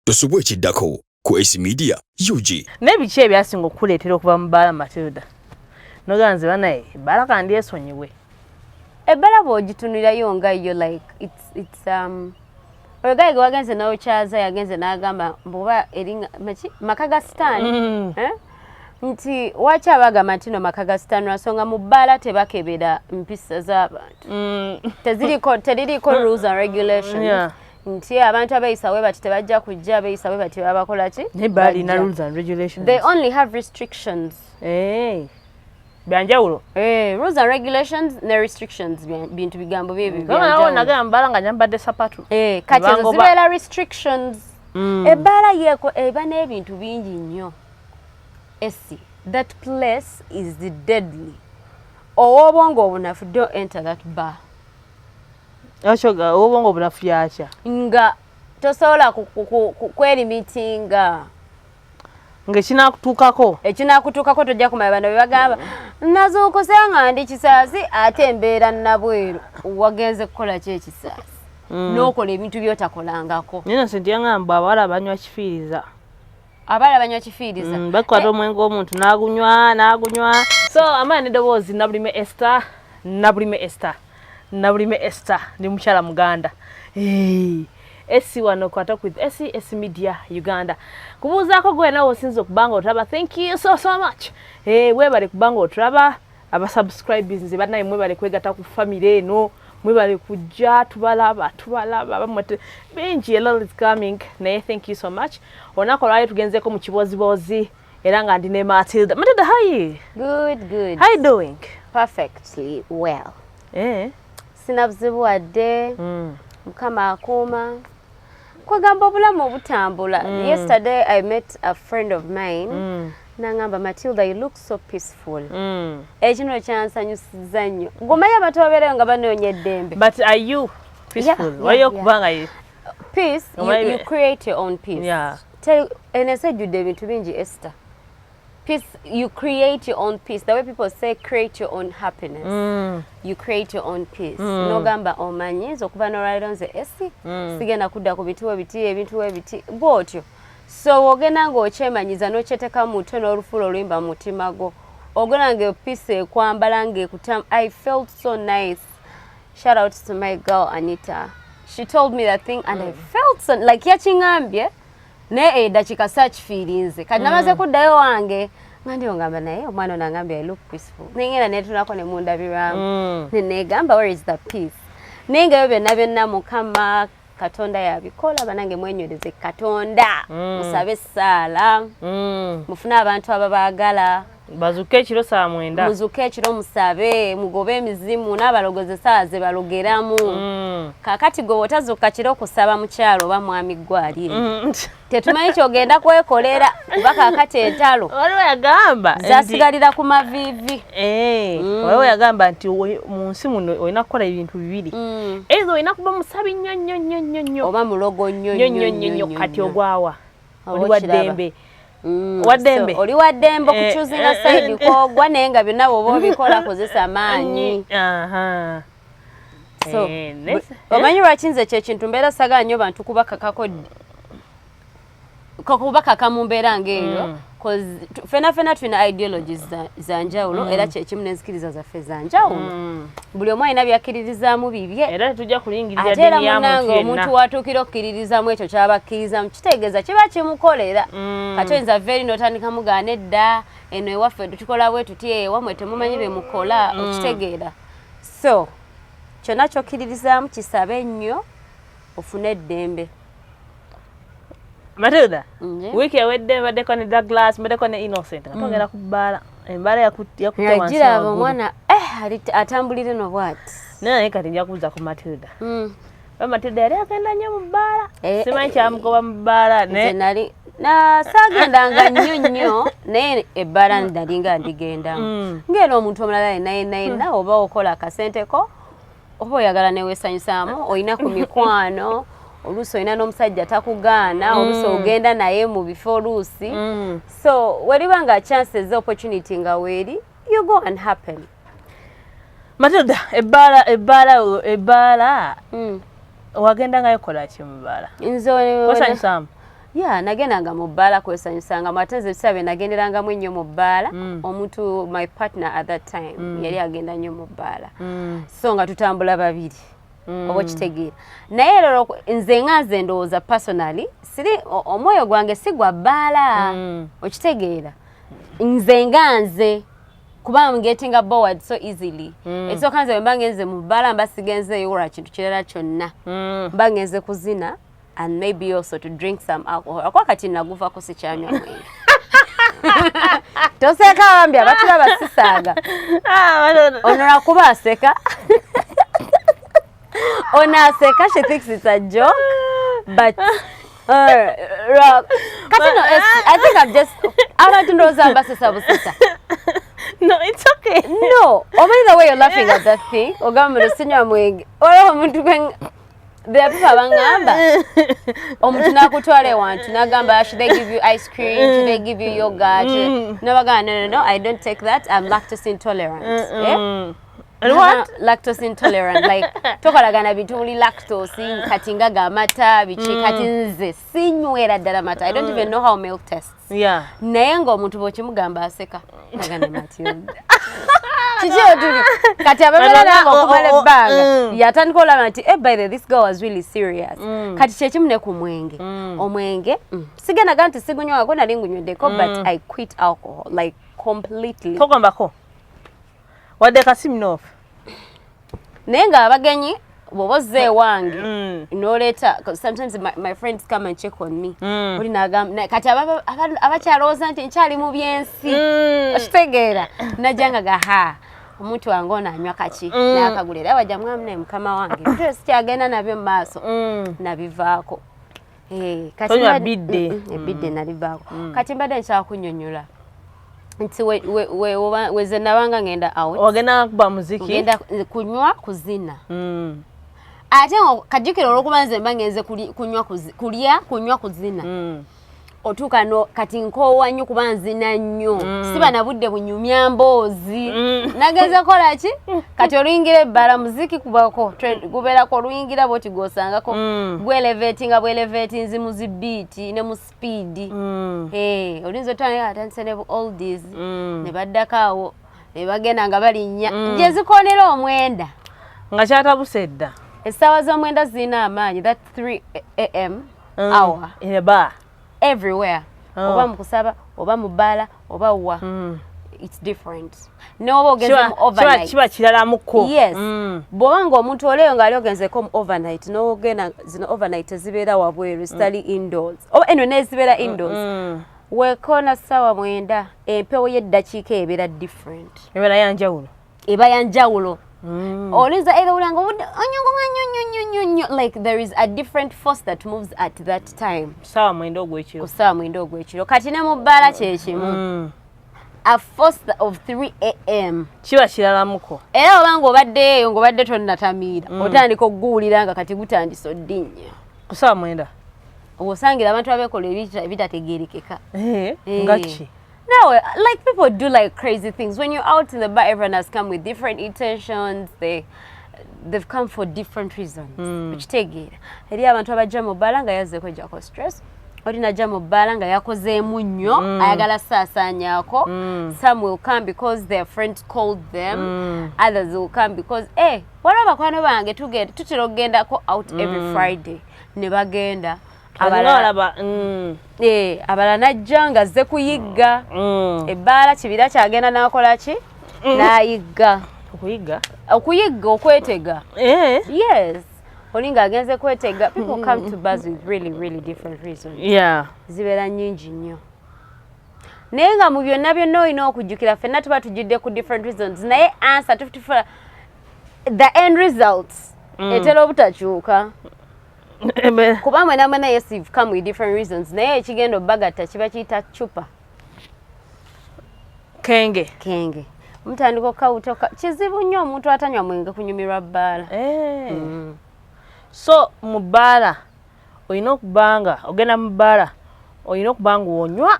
tosubwa ekiddako ku ac media ug naye biki ebyasinga okukuleetera okuva mu baala matilda nogamba nze banaye ebbala kandi esonyiwe ebbala bwogitunulirayo nga yo like it's, it's, um, oyo gaye ge wagenze nawe kyaza yagenze n'agamba mbuba eri maka ga sitaani mm. eh? nti waki abagamba nti no maka ga sitaani lwansonga mu bbaala tebakebera mpisa z'abantu mm. teririiko rules and regulations yeah. nti abantu abeyisa we bati tebajja kujja abeyisa we bati babakola ki they only have restrictions hey. Eh. byanjawulo hey, eh, rules and regulations ne restrictions bintu bigambo byebyonagambala nga nyambadde sapatu hey, eh, kati ezo zibeera restrictions mm. ebbaala yeeko eba n'ebintu bingi nnyo esi that place is the deadly ow'obwongo obunafu don't enter that bar Ekyo ga obongo bulafu yakya. Nga tosobola kwelimitinga. Ku, ku, nga ekinakutuukako ekinakutuukako tojja kumanya bano bebagamba nazuukuse nga ndi kisaasi ate embeera nabweru wagenze kukola ki ekisaasi mm. nokola ebintu byotakolangako naye nase nti yangamba abawala banywa kifiiriza abaala banywa kifiiriza mm, bakwata omwenge omuntu nagunywa nagunywa so amaani edoboozi nabulime ester nabulime ester nabulime ester ndi mukyala muganda esi wano kwata with esi esi media uganda kubuuzaako gwe nawe osinza okubanga otulaba thank you so so much hey, eh, webale kubanga otulaba aba subscribers nze banaye mwebale kwegata ku family eno mwebale kujja tubalaba tubalaba bamwe bingi a lot is coming naye thank you so much onako lwayo tugenzeko mu kibozibozi era nga ndi ne Matilda Matilda how you good good how you doing perfectly well eh sina buzibu wadde mm. mukama akuuma kwegamba obulamu obutambula mm. yesterday i met a friend of mine mm. nangamba matilda you look so peaceful mm. ekino kyansanyusiza nnyo ngomayo abantu babeerayo nga banoonya eddembe but are you peaceful yeah, waliyo yeah, okubanga yeah. peace you, you create your own peace yeah. ensi ejjudde ebintu bingi ester peace you create your own peace the way people say create your own happiness mm. you create your own peace mm. nogamba omanyi oh, nze okuva nolwaliro nze esi mm. sigenda kudda ku bitiwo biti ebintu webiti bwotyo so wogenda ngaokyemanyiza nokyeteka mutwe nolufuula oluyimba mutima gwo ogenda nga epiisi ekwambala ngaekutamu i felt so nice shout out to my girl anita she told me that thing and mm. i felt so, like yakingambye naye edakika eh, sakifiirinze kati namaze mm. kuddayo wange nga ndi ongamba naye omwana ono angambye i look peaceful naye ngenda netunako ne mundabirwamu mm. nenegamba where is the peace naye ngayo byonna byonna mukama katonda yabikola banange mwenywereze katonda mm. musabe essaala mufune abantu ababaagala bazuke ekiro saa mwenda muzuke ekiro musabe mugobe emizimu n'abalogozi esaawa ze balogeramu mm. kakati gwe wotazuka kiro kusaba mukyalo oba mwami gwalire mm. tetumanyi kyogenda kwekolera kuba kakati entalo waliwo yagamba zasigalira ku maviivi eh, mm. waliwo yagamba nti mu nsi muno olina kukola ebintu bibiri ezo olina kuba musabi nnyo nnyo nnyo nnyo nnyo oba mulogo nnyo nnyo nnyo nnyo kati ogwawa oli wa ddembe Mm, waddembe so, oli waddembe eh, okuchuzinga eh, eh, side kogwa naye nga byonna woba obikola kozesa amaanyi so omanyi lwaki nze kyekintu mbeera sagaa nyo bantu kubakakako kakubakaka mu mbeera ngaeyo mm. fena fena tulina ideologies za njawulo mm. era kyekimu nenzikiriza zaffe za njawulo mm. buli omu alina byakkiririzaamu bibye ate era munange omuntu watuukira okukkiririzaamu ekyo kyaba akkirizamu kitegeeza kiba kimukolera mm. kati oyinza veeri notandika mugaana edda eno ewaffe tutukola bwe tuti ewamwe temumanyi bye mukola okitegeera so kyonna kyokkiririzaamu kisabe nnyo ofune eddembe Matilda wiiki ewedde mbaddeko ne Douglas mbaddeko ne Innocent nga mm. twogera ku bbaala embala yakutagiraba omwana eh, atambulire no bwati naye naye kati nja kubuuza ku Matilda mm. ba Matilda yali agenda nnyo mu bbaala eh, eh, simanyi kyamugoba mu bbaala nali sagendanga nnyo nnyo naye ebbaala mm. nali nga ndigendamu ngaera omuntu omulala yenayenaye nawe oba okola akasente ko oba oyagala newesanyusaamu olina ku mikwano oluusi olina n'omusajja takugaana mm. oluusi ogenda naye mu bifo oluusi mm. so weliba nga chances opportunity nga weeri you go and happen matoda ebbaala ebbaala ebbaala mm. wagenda ngayo kola ki mu bbaala nze wesanyusaamu ya nagendanga mu bbaala kwesanyusangamu ate nze ebiseera bye nagenderangamu ennyo mu bbaala mm. omuntu my partner at that time mm. yali agenda nnyo mu bbaala mm. so nga tutambula babiri mm. oba okitegeera naye lero nze nga nze ndowooza personally siri omwoyo gwange si gwa bbaala mm. okitegeera nze nga nze kuba am getting a board so easily mm. ekisooka nze bwe mba ngenze mu bbaala mba sigenzeeyo olwa kintu kirala kyonna mm. mba ngenze kuzina and maybe also to drink some alcohol akuba kati naguvako sikyanywa mwenge toseka bambi abatula basisaaga ah, ono lwakuba aseka ono aseka she thinks it's a joke but uh, kati no i think i've just abantu ndowooza mbasesa busesa No, it's okay. No. Omanyi the way you're laughing at that thing. Ogamba sinywa mwenge. Wala omuntu gwe bebuba bangamba omuntu nakutwala ewantu nagamba should they give you ice cream should they give you yogurt mm. nabagamba no, no, no i don't take that i'm lactose intolerant mm -mm. Eh? And what? lactose intolerant like tokolagana bintu muli lactose kati ngaga amata biki mm. kati nze sinywera ddala mata i don't even know how milk tests yeah. naye ng'omuntu bw'okimugamba aseka agane matilda kiki otuli kati ababera nanga okumala oh, oh, oh, ebbanga mm. yatandika olaba nti eh, by the this girl was really serious mm. kati kyekimu ne ku mwenge mm. omwenge sigenaga nti sigunywako nali ngunyweddeko but i quit alcohol like completely togombako wadde kasiminofu naye nga abagenyi bwoba ozze ewange mm. noleeta sometimes my, my friends come and check on me mm. oli nagamba kati abakyalowooza nti nkyali mu byensi mm. okitegeera najja nga gaha omuntu wange ono anywa kaki nakagula era bajja mwami naye mukama wange sikyagenda nabyo mu maaso nabivaako Eh, tonywa bidde ebidde mm, mm. nalivaako mm. kati mbadde nkyala kunyonyola nti weze nabanga ngenda outogenda kuba muziki genda kunywa kuzina ate kajjukira olwokuba nze mba ngenze kunywa kulya kunywa kuzina otuuka no kati nkoowa nnyo kuba nzina nnyo mm. siba na budde bunyumya mboozi mm. nagenze kola ki kati oluyingira ebbala muziki kubako gubeerako oluyingira bwoti gwosangako mm. gweleveti nga bweleveti nzi mu zibiiti ne mu sipiidi mm. eh, olinza otandika atandise ne bu oldies mm. ne baddako awo ne bagenda nga balinnya gye zikonera omwenda nga kyatabuse edda essaawa z'omwenda zirina amaanyi that 3 am hour everywhere oh. oba mukusaba oba mubaala oba wa mm. it's different noba ogenzemu overnight kiba kiralamuko yes mm. bwoba nga omuntu oleyo ngaali ogenzeko overnight nogenda zino overnight ezibeera wabweru mm. zitali mm. indoors oba eno nezibeera indoors mm -mm. wekoona sawa mwenda empewo yeddakiika ebeera different ebeera yanjawulo eba ya njawulo mm. olinza either ulanga obudde onyongo nga nyo nyo nyo nyo nyo like there is a different force that moves at that time sawa mwendo ogwekiro ku sawa mwendo ogwekiro kati ne mu bbaala kyekimu mm. a force of 3 am kiba kiralamuko era obanga obadde eyo ng'obadde tonnatamiira mm. otandika okuguwulira nga kati gutandise oddinya ku sawa mwenda osangira abantu abekola ebitategerekeka eh, eh. ngaki No, like people do like crazy things. When you're out in the bar, everyone has come with different intentions. They they've come for different reasons. Mm. Which take it. Eri abantu abajja mu bar nga yazze kujja ko stress. Ori najja mu bar nga yakozeemu nnyo, mm. ayagala saasaanyaako. Mm. Some will come because their friends called them. Mm. Others will come because, eh, waliwo bakwano bange tutera okugendako out mm. every Friday ne bagenda. abalaba mm. eh, abala najja nga azze kuyigga mm. ebbaala kibira kyagenda nakola ki mm. nayigga okuyigga okuyigga okwetega eh. yes olinga agenze kwetega people come to bars with really really different reasons yeah. zibeera nyingi nnyo naye nga mu byonna byonna olina okujjukira fenna tuba tujjudde ku different reasons naye answer tufutufula the end results etera obutakyuka kuba mwena mwena yes you've come with different reasons naye ekigenda obagatta kiba kiyita cupa kenge kenge mutandika okawuta kizibu nnyo omuntu atanywa mwenge kunyumirwa bbaala eh. mm. so mu bbaala olina okubanga ogenda mu bbaala olina okubanga onywa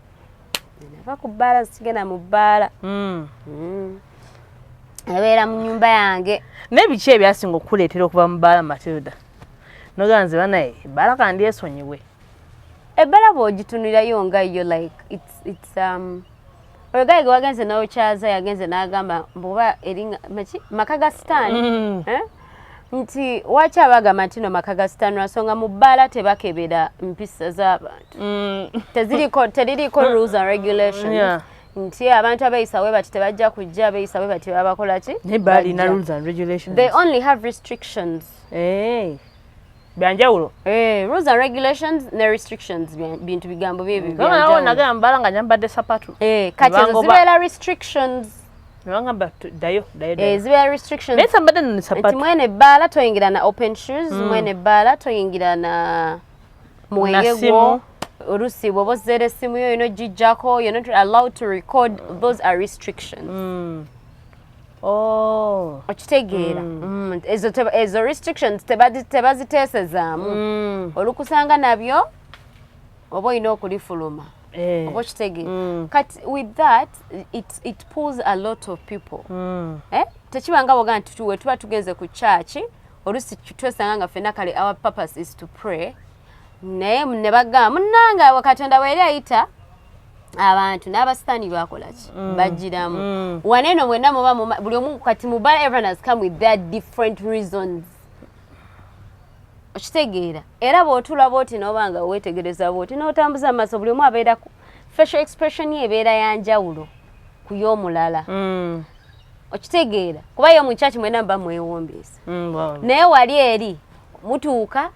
nava ku bbaala zikigenda mu bbaala hmm. hmm. ebeera mu nyumba yange naye biki ebyasinga okukuleetera okuva mu bbaala matilda nogamba nze banaye ebbaala kandi esonyiwe ebbaala bwogitunulirayo nga yo like it's, it's, um, oyo gaye gewagenze nokyaza yagenze nagamba mbuba eri maka ga sitaani mm. eh? nti waki abagamba ntino maka ga sitanura songa mu bbaala tebakebera mpisa z'abantu mm. teririko rules and regulations yeah. nti abantu abeyisa we bati tebajja kujja abeyisa we bati babakola ki the only have restrictions hey. Eh. byanjawulo eh, rules and regulations ne restrictions bintu bigambo byebyonagamba nagamba bala nga nyambadde sapatu eh, kati ezo zibeera restrictions newagamba dayo eh, zibeera restrictions naye sambadde no sapatu nti mwene ebbaala toyingira na open shoes mm. mwene ebbaala toyingira na mwenge gwo olusi bwoba ozeera essimu yo yona ogijjako you're not allowed to record those are restrictions mm. Oh. okitegeera mm. mm, ezo restrictions tebaziteesezaamu mm. olukusanga nabyo oba olina okulifuluma eh. oba okitegeera kati with that it pulls a lot of people eh? tekiba nga boga nti tuwe tuba tugenze ku kyaki olusi twesanga nga fena kale our purpose is to pray naye ne bagamba munange katonda weeri ayita abantu n'abasitaani bakola ki mm. bajjiramu mm. wane eno mwenna muba buli omu kati mubala everyone has come with their different reasons okitegeera era bw'otula bwoti n'oba nga weetegereza bwoti n'otambuza amaaso buli omu abeera facial expression ye ebeera ya njawulo ku y'omulala mm. okitegeera kuba yo mu kyaki mwena muba mwewombeesa naye wali eri mutuuka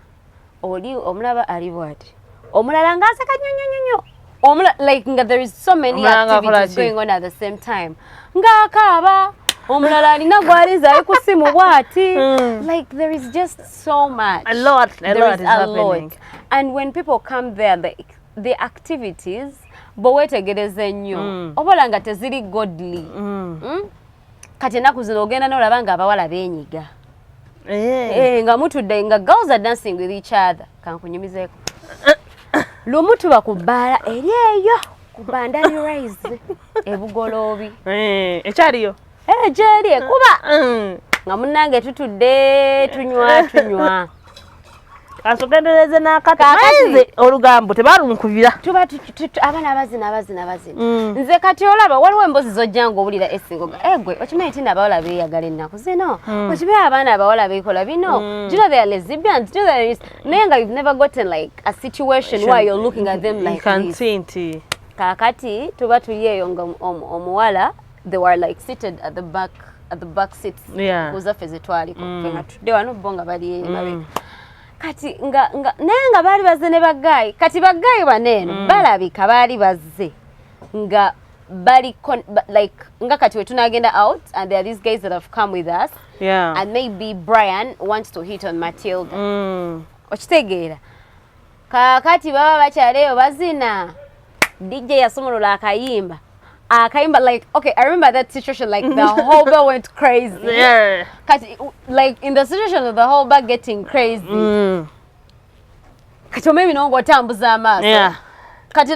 oli omulaba ali bwati omulala ng'aseka nnyo nnyo nnyo omula like nga there is so many activities going on at the same time ng'akaaba omulala alina gwaliza ali ku simu bwati hmm. like there is just so much a lot, a there lot is, is a happening. lot and when people come there the, the activities bwe weetegereza ennyo mm. obola nga teziri godly mm. Mm? kati enaku zino ogenda nolaba nga abawala benyiga eh. Eh, nga mutudde nga girls are dancing with each other kankunyumizeko lumu tuba ku bbaala eri eyo ku bandali rise ebugoloobi eh, ekyaliyo gyeri ekuba mm. nga munange tutudde tunywa tunywa asogendereze n'akati olugambo tebalumukubira tuba abaana abazina abazina abazina mm. nze kati olaba waliwo embozi zojja nga owulira esingoga egwe eh, okimanyi tina abawala beeyagala ennaku zino mm. okibe abaana abawala beekola bino mm. do you know they are lesbians do you know they are naye nga you've never gotten like a situation where you're looking at them like this nti kakati tuba tuli eyo nga omuwala they were like seated at the back at the back seats yeah. kuzaffe zetwaliko mm. fenga tudde wano bo nga bali mm. emabega mm. kati nga, nga naye nga baali bazze ne bagaayi kati bagaayi baneeno mm. balabika baali bazze nga bali con, ba, like nga kati wetunagenda out and there are these guys that have come with us yeah. and maybe brian wants to hit on matilda mm. okitegeera kaakati baba bakyala eyo bazina dj yasumulula akayimba akayimba like okay i remember that situation like the whole bar went crazy yeah. kati like in the situation of the whole bar getting crazy mm. kati omemi nonga otambuza amaaso yeah. kati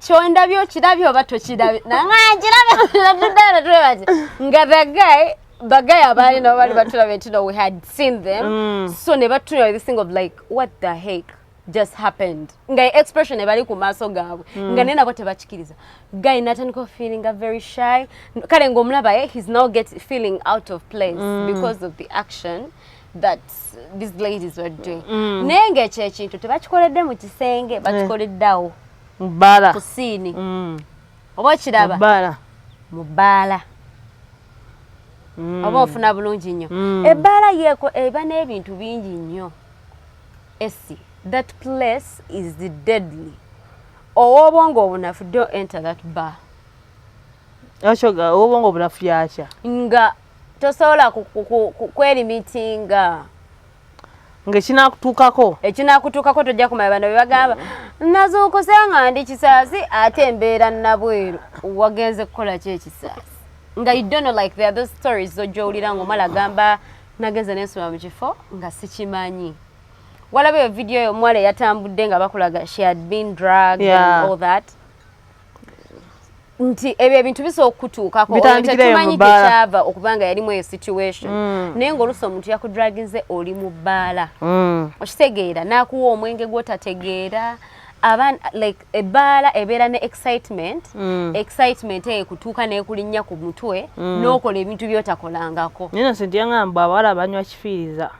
kyondabye okirabye oba tokirabye nangankirabye nga the guy bagaya abaali nabo bali batulabye nti no we had seen them mm. so ne batulabye this thing of like what the heck just happened nga expression ebali ku maaso gaabwe mm. nga naye nabo tebakikiriza guy natandika ofeelinga very shy kale ngaomulaba eh, he's now get feeling out of place mm. because of the action mm. that these ladies were doing mm. naye ngaekyo ekintu tebakikoledde mu kisenge bakikoleddeawo eh. bala ku siini mm. oba okiraba bala mu bbaala mm. oba ofuna bulungi nnyo mm. ebbaala yeeko eba n'ebintu bingi nnyo esi that place is the deadly ow'obwongo obunafu don't enter that bar akyoga ow'obwongo obunafu yakya nga tosobola kwerimitinga ngekinakutuukako ekinakutuukako tojja kumanya bano bebagamba nazuukuse nga ndi kisaasi ate embeera nabweru wagenze kukola ki ekisaasi nga you don't know like there those stories zojja owulira nga omala agamba nagenze nensoma mu kifo nga sikimanyi walaba eyo vidiyo yo omuwala eyatambudde nga bakulaga she had been drug yeah. and all that nti ebyo ebintu bisobola okukutuukako tetumanyi gyekyava okuba nga yalimu eyo situation mm. naye ngaoluusi omuntu yakudraginze oli mu bbaala mm. okitegeera n'akuwa omwenge gwotategeera aban like ebbaala ebeera ne excitement mm. excitement eyo kutuuka nekulinnya ku mutwe n'okola ebintu byotakolangako naye nose nti yangamba abawala banywa kifiiriza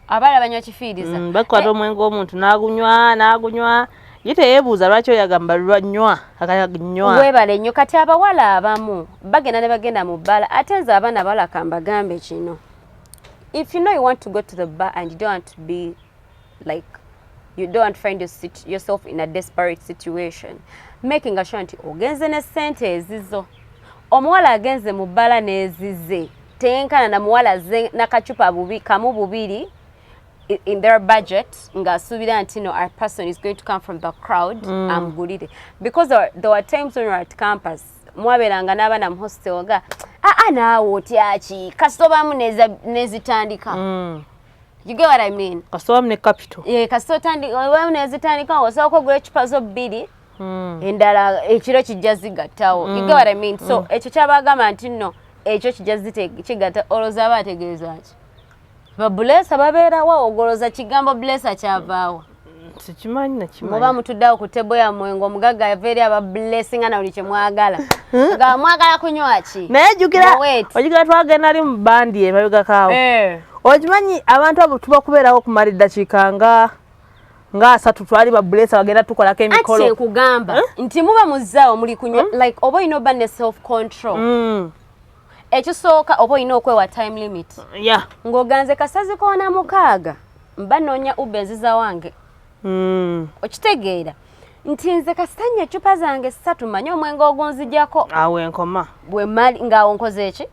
abaala banywa kifiiriza mm, bakwata omwenge omuntu nagunywa nagunywa ye teyebuuza lwaki oyagamba lwanywa akanywa webale nnyo kati abawala abamu bagenda ne bagenda mu bbala ate nze abaana abawala kambagambe kino if you know you want to go to the bar and you don't want to be like you don't want to find yourself in a desperate situation making sure nti ogenze ne sente ezizo omuwala agenze mu bbala n'ezize teyenkana na muwala aze nakacupa bubi kamu bubiri in their budget ng'asuubira nti no our person is going to come from the crowd mm. amugulire because there, there were times when we were at campus mwabeeranga n'abaana mu hostel nga aa ah, ah, naawe otyaki kasitobamu nezitandika mm. You get what I mean? Kasita wamu ne capital. Yeah, kasita otandika wamu nezitandika osooka ogula ecupa zo bbiri hmm. endala ekiro kijja zigattawo. You get hmm. what I mean? So hmm. ekyo kyabagamba nti nno ekyo kijja kigatta olowooza aba ategeeza ki? Babuleesa babeerawo ogoloza kigambo buleesa kyavaawo. sikimanyi nakimanyi muba mutuddeawo ku tebo yammwe ngaomugagga yava eri aba blessinga na buli kye mwagala hmm? nga mwagala kunywa ki naye jukira ojukira twagenda li mu bandi emabegakaawo eh. okimanyi abantu abo tuba kubeerawo okumala eddakiika nga nga asatu twali ba blesa bagenda tukolako emikolo ati kugamba eh? nti muba muzaawo muli kunywa hmm? like oba olina oba ne self control hmm. ekisooka oba olina okwewa time limit yeah. ng'oganze kasazi koona mukaaga mba noonya uba enziza wange mm. okitegeera nti nze kasita nnyo eccupa zange ssatu manye omwenge ogunzijako awo enkoma bwemali ngaawo nkoze eki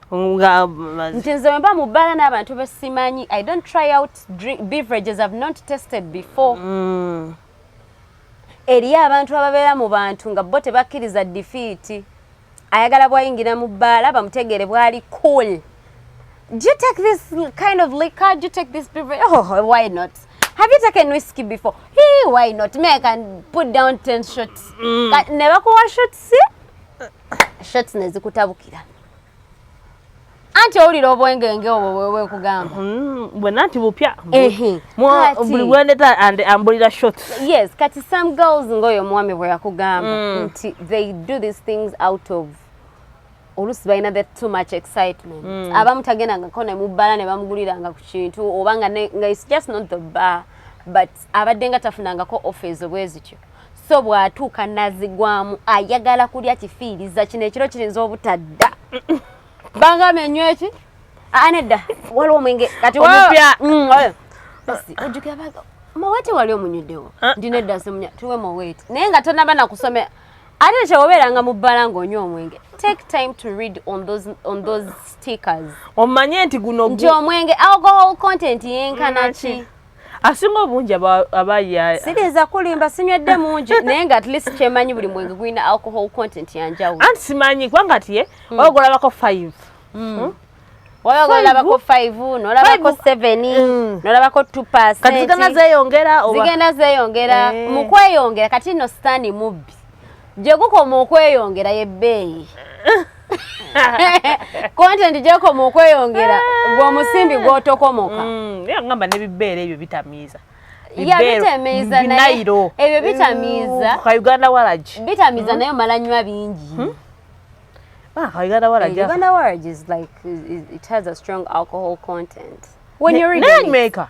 nti nze wemba mu bbaala n'abantu besimanyi i don't try out beverages have not tested before mm. eriyo abantu ababeera mu bantu nga bo tebakkiriza difiiti ayagala bwayingira mu bbaala bamutegeere bwali cool do you take this kind of liquor do you take this beverage oh why not have you taken whiskey before hey why not me i can put down 10 shots mm. ne bakuwa shots shots nezikutabukira anti owulira obwengenge obwo bwewe kugamba mm, bwena nti bupya buli bwendeta and ambulira shot yes kati some girls ngaoyo omwami bwe yakugamba mm. nti they do these things out of olusi balina the too much excitement mm. abamu tagendangako nemubbala ne bamuguliranga ku kintu oba nga it's just not the bar but abadde nga tafunangako ofa ezo bwe zityo so bw'atuuka nazigwamu ayagala kulya kifiiriza kino ekiro kirinza obutadda bangambye enywa eki anedda waliwo omwenge kati omupya mm, ojjukira baga maweti wali omunyuddewo ah. ndina edda simunya tuwe maweti naye nga tonaba nakusomera ate kyewobeeranga mu bbala ng'onywa omwenge take time to read on those, on those stickers omanye nti guno nti omwenge alcohol content yenkanaki asinga obungi abaya siriza kulimba sinywedde mungi naye nga at least kyemanyi buli mwenge gulina alcohol content yanjawulo anti simanyi kubanga ati ye hmm. oyo golabako five hmm. hmm? oyo golabako five nolabako seven nolabako two percentzigenda zeyongera eh. mu kweyongera kati no sitani mubbi gyegukoma okweyongera yebbeeyi kontenti gyekoma okweyongera gweomusimbi gwotokomoka mm, ngamba nebibeera ebyo bitamiiza yabitamiiza naye ebyo bitamiiza kauganda waragi bitamiiza hmm? naye omala nywa bingi hmm? Ah, Uganda Waraj. Yeah, Uganda Waraj is like it has a strong alcohol content. When ne, you're reading it, maker.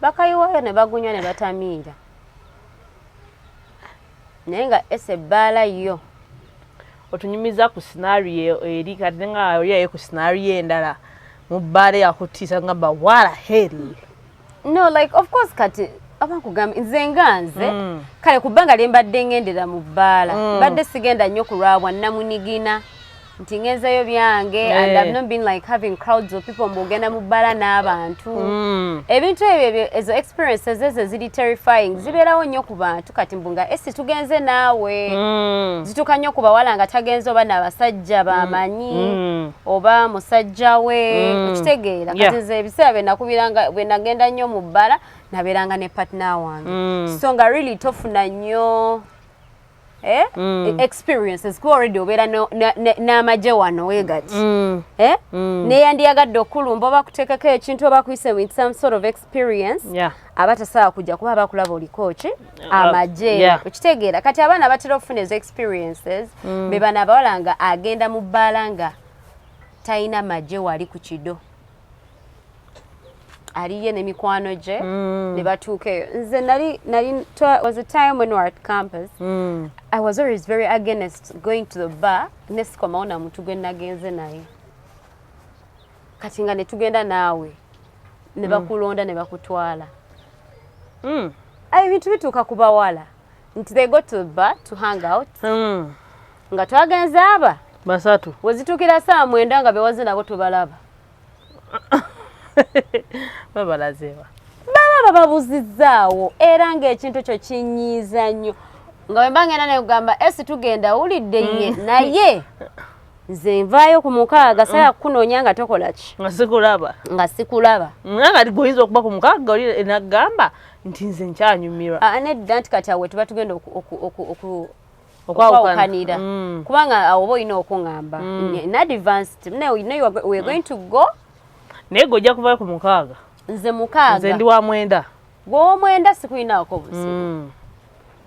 bakayiwayo ne bagunywa ne batamiira naye nga ese ebbaala yo otunyumiza ku sinario eri kati nga oyaye ku sinario endala mu bbaala yakutiisa ngamba wala hel no like of course kati abakugamba nze nga nze mm. kale ku bbanga lye mbadde ngendera mu bbaala mm. mbadde sigenda nnyo kulwabwa namunigina nti ngenzeyo byange hey. and eh. I've not been like having crowds of people mbugenda mu bbala n'abantu mm. ebintu ebyo ezo experiences ezo ziri terrifying mm. zibeerawo nnyo ku bantu kati mbu nga esi tugenze naawe mm. zituuka nnyo ku bawala nga tagenze oba n'abasajja bamanyi mm. mm. oba musajja we mm. okitegeera kati nze yeah. ebiseera byenakubiranga bwenagenda nnyo mu bbala nabeeranga ne partner wange mm. so nga really tofuna nnyo Eh? Mm. E, experiences kuba already obeera n'amagye wano wegati mm. eh? mm. neyandiyagadde okukulumba oba kuteekako ekintu oba kuyise with some sort of experience yeah. aba tasobola kujja kuba abakulaba oliko ki uh, amagye yeah. okitegeera kati abaana batera okufuna ezo experiences mm. be bana abawala nga agenda mu bbaala nga talina magye wali ku kido aliye ne mikwano gye mm. ne batuuka eyo nze nali nali was a time when we were at campus mm. i was always very against going to the bar nesikomawo na muntu gwe nagenze naye kati nga netugenda naawe ne mm. bakulonda ne bakutwala mm. ebintu bituuka ku bawala nti they go to the bar to hang out mm. nga twagenze aba basatu wezitukira saa mwenda nga bewaze nabo tubalaba babalazewa baba bababuzizaawo era ngaekintu kyo kinyiiza nnyo nga wemba ngenda nekugamba esi tugenda wulidde ye mm. naye nze nvaayo ku mukaaga mm. saya kukunoonya nga tokola ki nga sikulaba nga sikulaba ngangati goyinza okuba ku mukaaga oli enagamba nti nze nkyanyumirwa ah, nedda nti kati awe tuba tugenda okwawukanira mm. kubanga awo oba olina okuŋamba mm. nadvanced naye wegoin to go naye gojja kuvayo ku mukaaga nze mukaaga nze ndi wa mwenda gw'omwenda sikulinaako buzibu mm.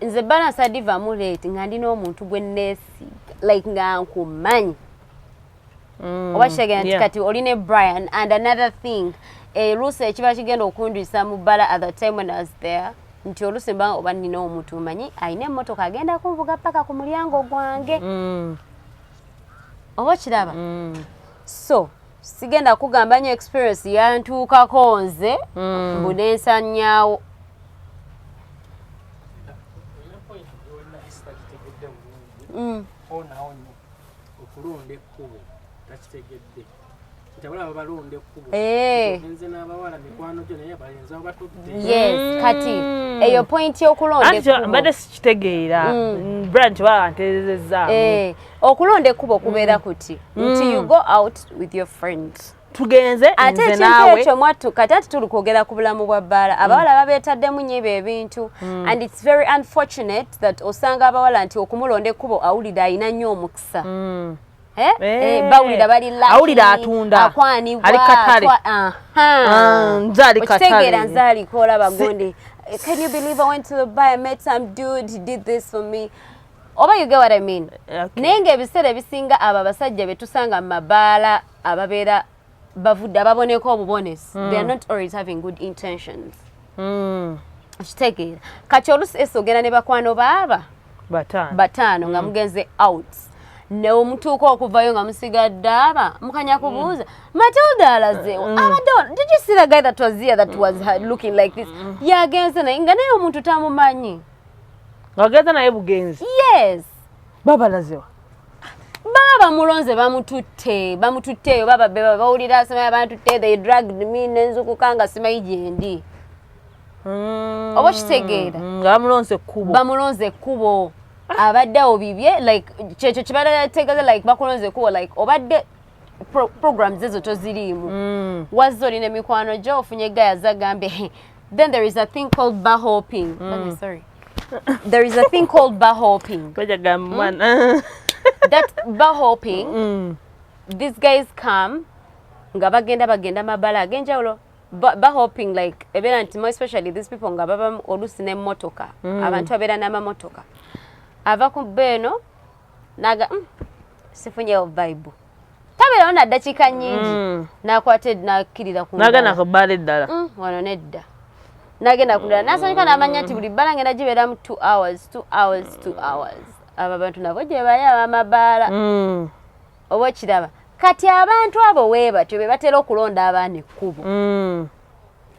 nze balance adivamu late nga ndi n'omuntu gwe neesiga like nga nkumanyi mm. oba kitegera nti kati oli ne brian and another thing eruusi eh, ekiba kigenda okundwisa mu bbala at the time when i was there nti oluusi mba oba nina omuntu manyi alina emmotoka agenda kunvuga paka ku mulyango gwange mm. oba okiraba mm. so sigenda kugamba nyo experience yantuukako nze mm. mbu nensanyaawo mm. eh. yes kati mm. eyo point yokulonda mbadde sikitegeera mm. brand kibaba nterezezzaamu eh. okulonda ekkubo kubeera mm. kuti nti mm. you go out with your friend tugenze ate ekintu ekyo mwattu kati ati tuli kwogera ku bulamu bwa bbaala abawala mm. babeetaddemu nyo ebyo ebintu mm. and its very unfortunate that osanga abawala nti okumulonda ekkubo awulidde alina nnyo omukisa mm. Eh? Eh, eh, bawulira bali awulira atunda akwanibwa ah. okitegeera nze aliko olaba gundi can you believe i went to the buy i met some dude he did this for me oba you get what I mean okay. naye ngaebiseera ebisinga abo abasajja betusanga mu mabaala ababeera bavudde ababoneka obubonesi mm. they are not always having good intentions mm. kitegeera kati olusi esi ogenda ne bakwano baaba bataano bataano nga mm. mugenze out neomutuuka okuvayo nga musigadde aba mukanya kubuuza mm. matilda alazewo mm. abadde did you see the guy that was here that was looking like this yagenze naye nga naye omuntu tamumanyi ngagenda naye bugenzi yes babalazewa baba bamulonze bamututte bamututte eyo baba beba bawulira asemaya bantutte they dragged me nenzukuka nga simayi gyendi mm. oba okitegeera mm, nga bamulonze ekkubo bamulonze ekkubo abadde awo bibye like kyekyo kibadde ategeeza like bakulonze ekkubo like obadde pro, programs ezo toziriimu mm. wazze olina emikwano gyo ofunye gaya zagambye then there is a thing called bar hopping mm. sorry there is a thing called bar hopping mm? that bar hopping mm. these guys come nga bagenda bagenda mabala agenjawulo ba hoping like ebeera nti more especially these people nga baba oluusi n'emmotoka mm. abantu abeera n'amamotoka ava ku beeno naga mm, sifunyewo vibe tabeerawo naddakiika nyingi mm. nakwata nakkirira kunagenda ku bbala eddala mm, wano nedda nagenda kudala nasanyuka namanya nti buli bbala ngenda gibeeramu t hours t hours t hours abo abantu nabo gyebaye abamabaala mm. oba okiraba kati abantu abo webatyo bebatera okulonda abaana ekkubo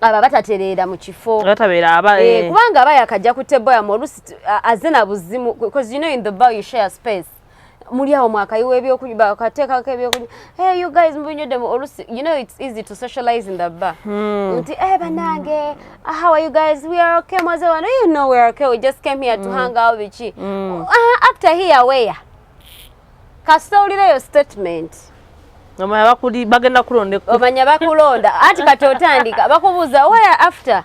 aba batatereera mu kifo eh, kubanga aba yakajja ku teboyamu olusi azina buzimu because you know in the bar you share space muli awo mwakayiwa ebyokunywa bakateekako ebyokunywa hey you guys mubinywedemu olusi you know it's easy to socialize in the bar hmm. nti eh banange ah, how are you guys we are okay mwaze wano you know we are okay we just came here to hmm. hang out biki hmm. ah, after here where kasita owulireyo statement omanya bagenda kulonda omanya bakulonda anti kati otandika bakubuuza where after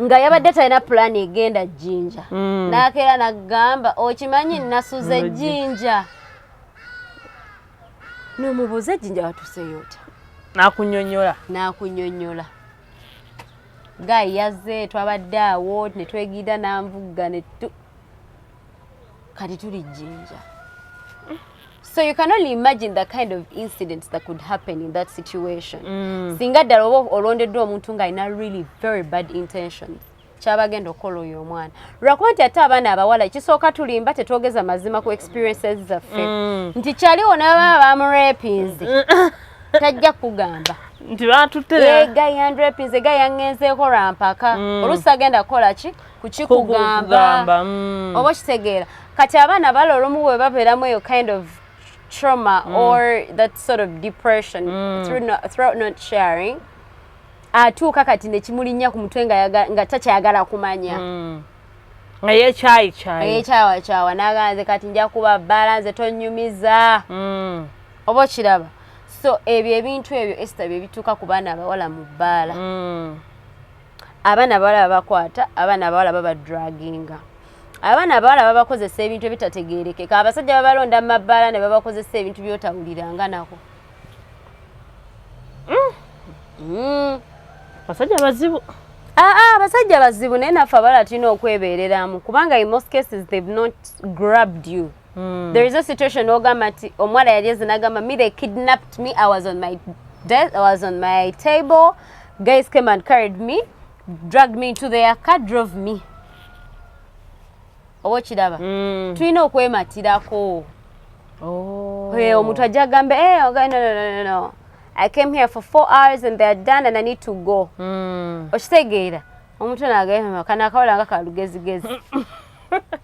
nga yabadde talina pulaani egenda jjinja mm. n'akeera n'agamba okimanyi nasuza ejjinja n'omubuuza ejjinja watuseeyo otya n'akunyonyola n'akunyonyola gayi yazze twabadde awo ne twegiira n'anvugga kati tuli jinja so you can only imagine the kind of incidents that could happen in that situation mm. singa ddala oba olondeddwa omuntu nga alina really very bad intentions kyabagenda okukola oyo omwana lwakuba nti ate abaana abawala ekisooka tulimba tetwogeza mazima ku experiences zaffe mm. nti kyaliwo nababa bamurepinzi mm. tajja kugamba nti batutte egayanrepinzi egayangenzeeko lwampaka mm. olusi agenda kukola ki kukikugamba mm. oba okitegeera kati abaana bala olumu bwe babeeramu eyo kind of trauma mm. or that sort of depression mm. through, no, throughout not sharing atuuka kati nekimulinnya ku mutwe nga takyagala kumanya mm. eyekyayikyayiyekyawakyawa naganze kati nja kuba bbala nze tonyumiza mm. oba okiraba so ebyo ebintu ebyo esita bye bituuka ku baana abawala mu bbaala mm. abaana abawala babakwata abaana abawala babadraginga abaana abawala babakozesa ebintu ebitategerekeka abasajja babalonda mu mabbaala ne babakozesa ebintu byotawuliranga nako mm. mm. basajja bazibu aa ah, ah, abasajja bazibu naye naffe abala tulina okwebeereramu kubanga in most cases they've not grabbed you mm. there is a situation ogamba nti omuwala yali ezinagamba me they kidnapped me i was on my death, I was on my table Guys came and carried me, dragged me into their car, drove me. Owo kiraba. Mm. Tulina okwematirako. Oh. Hey, omuntu ajja gamba, hey, eh, okay, no, no, no, no. I came here for four hours and they are done and I need to go. Mm. Okitegeera. Omuntu nagamba, kana akawola nga kalugezigezi.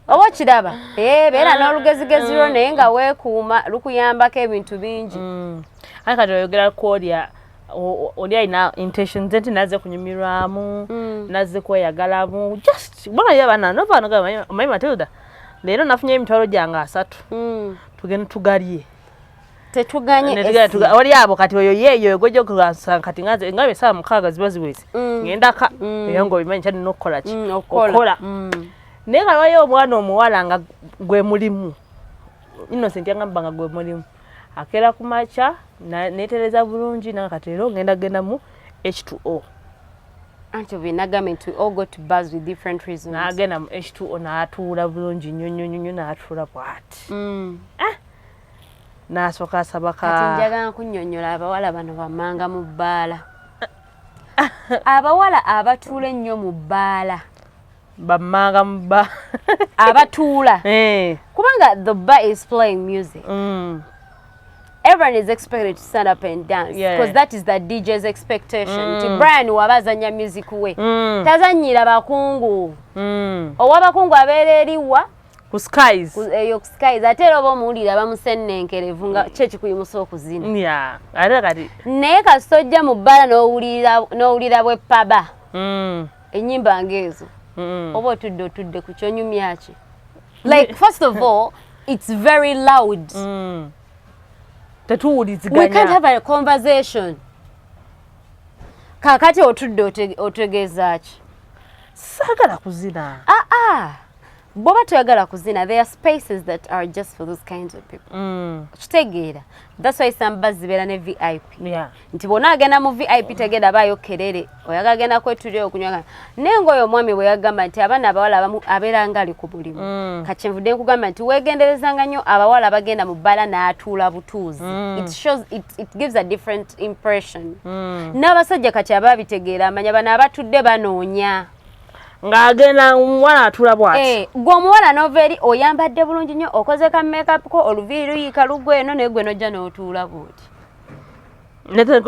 oba okiraba eh, beera ah, n'olugezigezi lwo mm. naye nga weekuuma lukuyambako ebintu bingi mm. aye kati oyogera kwolya oli alina intention ze nti naze kunyumirwamu mm. naze kweyagalamu just bona ye bana no bana ga my matilda lero nafunye emitwalo gyange asatu mm. tugende tugalye tetuganye tuga oli abo kati oyo yeyo egojo kasa kati ngaze ngabe saa mukaga zibazi wese mm. ngenda ka mm. yango bimanyi chani nokola chi mm, okola mm. nega wayo omwana omuwala nga gwe mulimu innocent yagamba nga gwe mulimu akera ku makya netereza bulungi nanga kati leero ngenda gendamu h2o anti binagambe nti all go to bars with different reasons nagenda mu h2o natuula bulungi nnyo nnyo nnyo natuula bwati mm. eh? nasooka asaba ka kati njagala nkunyonyola abawala bano bamanga mu bbaala abawala abatuula ennyo mu bbaala bammanga mu bba abatuula eh. kubanga the bar is playing music mm. everyone is expected to stand up and dance because yeah. that is the DJ's expectation mm. nti Brian waba azanya music we mm. tazanyira bakungu mm. owa bakungu abeera eriwa ku skies eyo ku skies ate era oba omuwulira bamusennenkerevu nga kyo kikuyimusa okuzina yeah. ate kati naye kasita ojja mu bbala n'owulira bwe paba mm. enyimba ngeezo mm. oba otudde otudde ku kyonyumya ki like first of all it's very loud mm. tetuwuliziganya we can't have a conversation kakati otudde otegeeza ki saagala kuzina aa ah, ah. boba toyagala kuzina there are spaces that are just for those kinds of people mm. kitegeera that's why some bus zibeera ne vip yeah. nti bona agenda mu vip tegenda baayo kerere oyaga agenda kwetulira okunywa naye ngaoyo omwami bwe yagamba nti abaana abawala abamu abeera nga ali ku bulimu mm. kakinvudde nkugamba nti weegenderezanga nnyo abawala abagenda mu bbala n'atuula butuuzi mm. it shows it, it gives a different impression mm. n'abasajja kati aba bitegeera amanya bano abatudde banoonya ng'agenda omuwala atula bwati eh, gwe omuwala nova eri oyambadde bulungi nnyo okoze ka makeup ko oluviiri luyiika lugwe eno naye gwe nojja n'otuula bwoti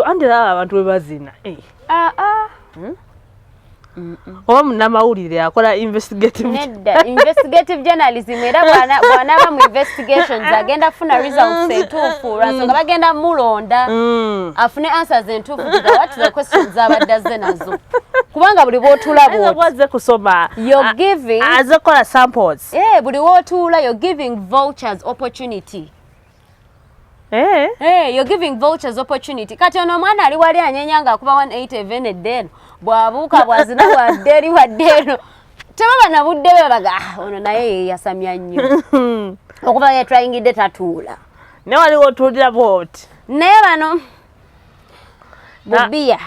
andi laba abantu bwe bazina aa eh. ah, ah. hmm? oba munamawulire akola investigative nedda investigative journalism era bwanaba mu investigations agenda kufuna results entuufu lwansonga mm. bagenda mulonda mm. afune answers entuufu gigawatira questions zabadde azze nazo kubanga buli bwotulabwazze kusoma aze kukola samples eh, buli wotuula you're giving vouchers opportunity Hey. Eh? Hey, eh, you're giving vouchers opportunity. Kati ono omwana ali wali anyenya nga akuba 180 even a day. Bwabuka bwazina wa deri wa dero. Teba bana budde be baga. Ah, ono naye yasamya nnyo. Okuba ye trying de tatula. Ne wali otulira bot. Ne bano. Bubia,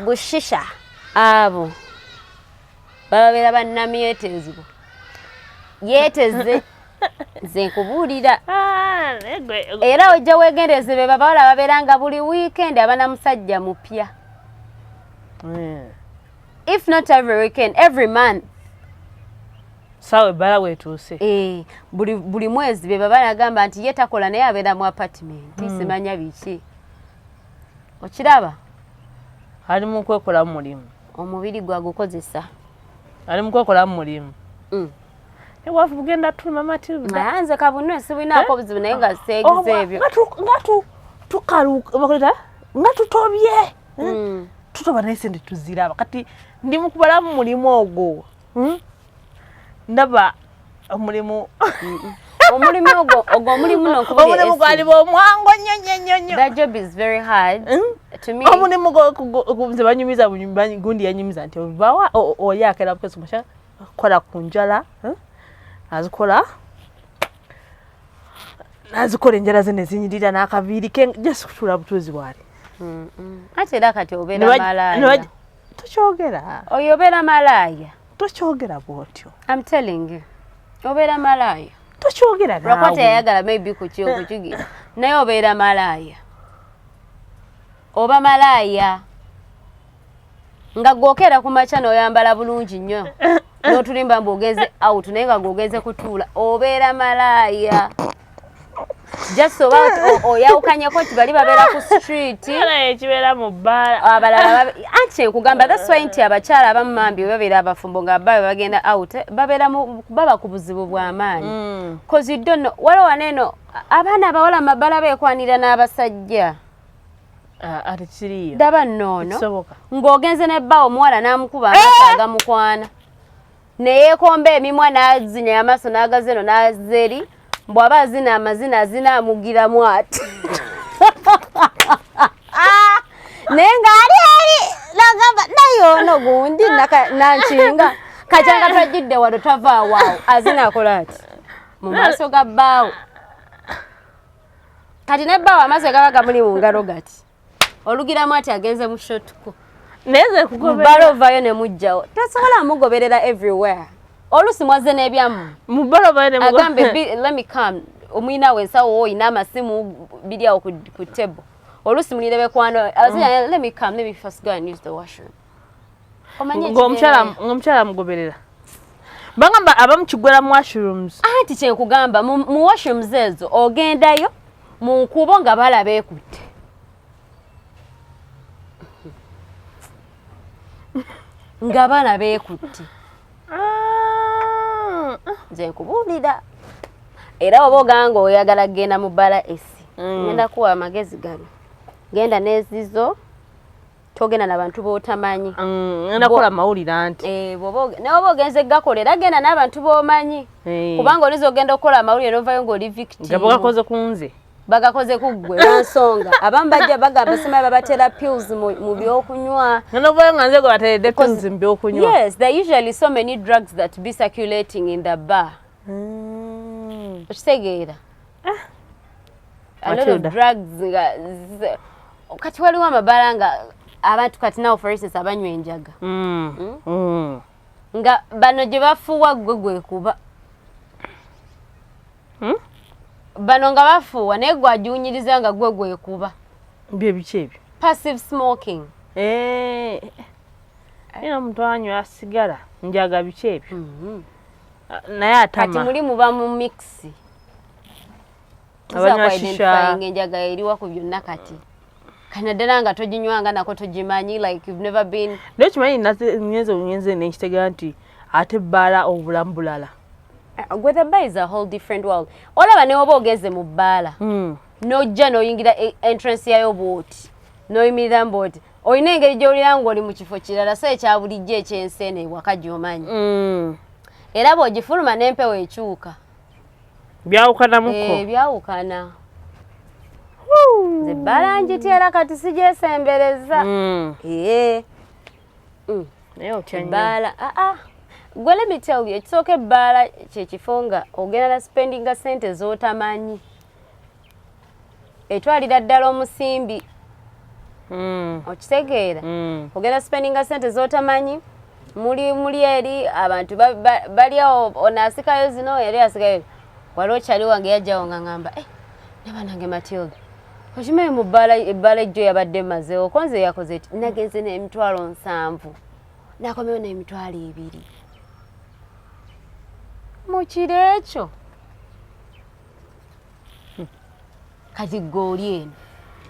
bushisha, abo. bababeera bannamyeteezebwa yeeteze nze nkubuulira ah, era ojja wegendereze be babawala babeera nga buli wiikendi abana musajja mupya hmm. if not every weekend every month sawa ebbala wetuuse eh, buli mwezi be babala agamba nti ye takola naye abeera mu apartment hmm. simanya biki okiraba ali mu kwekolamu mulimu omubiri gwa gukozesa ali mukokola mulimu mm. ewafu bugenda tulima matilda nze kabunwe sibwinako eh? buzibu naye nga ah. seegize oh, ebyo nga tukalubakuleta nga tutobye eh? mm. tutoba naye sente tuziraba kati ndi mukubalamu mulimu ogwo hmm? ndaba omulimu omulimu ogwo ogwo omulimu nokubuli omulimu gwali bwomwango nnyo nnyo nnyo nnyo that job is very hard hmm? to me omulimu nze banyumiza gundi yanyumiza nti obawa oli akera bukesi musha kola ku njala hmm? azikola nazikola enjala ze nezinyirira n'akaviiri ke just kutuula butuuzi bwali ate era kati obeera malaaya tokyogera oyo obeera malaaya tokyogera bwotyo am telling you obeera malaaya tokyogera nawe lwakuba teyayagala maybe kukyokukigira naye obeera malaaya oba malaaya nga gwokeera ku makya noyambala bulungi nnyo notulimba mbu ogenze out naye nga gwogenze kutuula obeera malaaya just oba oyawukanyeko nti bali babeera ku streetkibeera mu bbaalabalala ah, anti nkugamba that's why nti abakyala abamu mambi babeera abafumbo nga babe bagenda out babeera baba ku buzibu bw'amaanyi mm. cause you don't know waliwo wano eno abaana abawala mu mabbala beekwanira n'abasajja Ah, ati kiriyo daba noono ng'ogenze ne bba omuwala n'amukuba eh! amaaso agamukwana neyekomba emimwa nazinya yamaso nagaza eno naza eri mbu aba azina amazina azina amugiramu ati naye nga ali eri nagamba naye ono gundi nankinga kajanga twajjidde wano tava awaawo azina akola ati mu maaso ga bbaawo kati ne bbaawo amazzi gaba gamuli mu ngalo gati olugiramu ati agenze mu shotku mbala ovayo ne mujjawo tasobola mugoberera everywhere olusi mwaze n'ebyamu agambe let me come omuyina we nsawo oyina amasimu biri awo ku table olusi mulire bekwano mm. let me come let me first go and use the washroom ng'omukyala mugoberera bagamba abamu kigwera mu washrooms anti kyenkugamba mu washrooms ezo ogendayo mu nkuubo nga balaba ekutte nga balaba ekutte ah. nze nkubuulira era oba oganga oyagala kugenda mu bala esi mm. ngenda kuwa amagezi gano genda n'ezizo togenda na bantu botamanyi mm, nakola mawulire anti eh, naye oba ogenze gakola era genda n'abantu bomanyi eh. kubanga oliza ogenda okukola amawulire novayo ngaoli victimgakoze kunze bagakoze kuggwe lwansonga abamu bajja bagamba simayi babatera pills mu byokunywa novayo nga nze gwe bateredde pills mu byokunywa yes there usually so many drugs that be circulating in the bar mm. okitegeera ah. a lot of drugs nga kati waliwo amabala nga abantu kati nawo for instance abanywa enjaga mm. Mm? Mm. nga bano gye bafuuwa gwe gwekuba hmm? bano nga bafuuwa naye gwagiwunyiriza nga gwe gwekuba byebiki ebyo passive smoking eh, era omuntu anywa sigala njaga biki ebyo mm-hmm. naye atama kati muli muba mu mixi abanywashishainga enjaga eriwa ku byonna kati kanaddala nga toginywanga nako togimanyi like you've never been naye kimanyi ngenze ngenze nenkitega nti ate bbaala obulamu bulala gwethe uh, ba is a whole different world olaba newoba ogenze mu bbaala hmm. nojja noyingira e, entrance yayo bwoti noyimirira mbwoti olina engeri gyowulira nga oli mu kifo kirala so ekyabulijjo ekyensi eno ewaka gyomanyi hmm. era bwogifuluma n'empewo ekyuka byawukanamuko eh, byawukana nze ebbala njitera kati sijesembereza hmm. eh. hmm. ebbala aa ah, ah. gwe let me tell you ekisooka ebbaala kyekifo nga ogenda na spendinga sente zotamanyi etwalira ddala omusimbi hmm. okitegeera hmm. ogenda spendinga sente zotamanyi muli muli eri abantu balyawo ono asikayo zino eri asikayo wali okyali wange yajjawo nga ngamba eh, ne banange matilda okimanyi mu ebbala ejjo yabadde mazewo konze yakoze ti nagenze nemitwalo nsanvu nakomewo nemitwalo ebiri mukiro ekyo kati gooli eno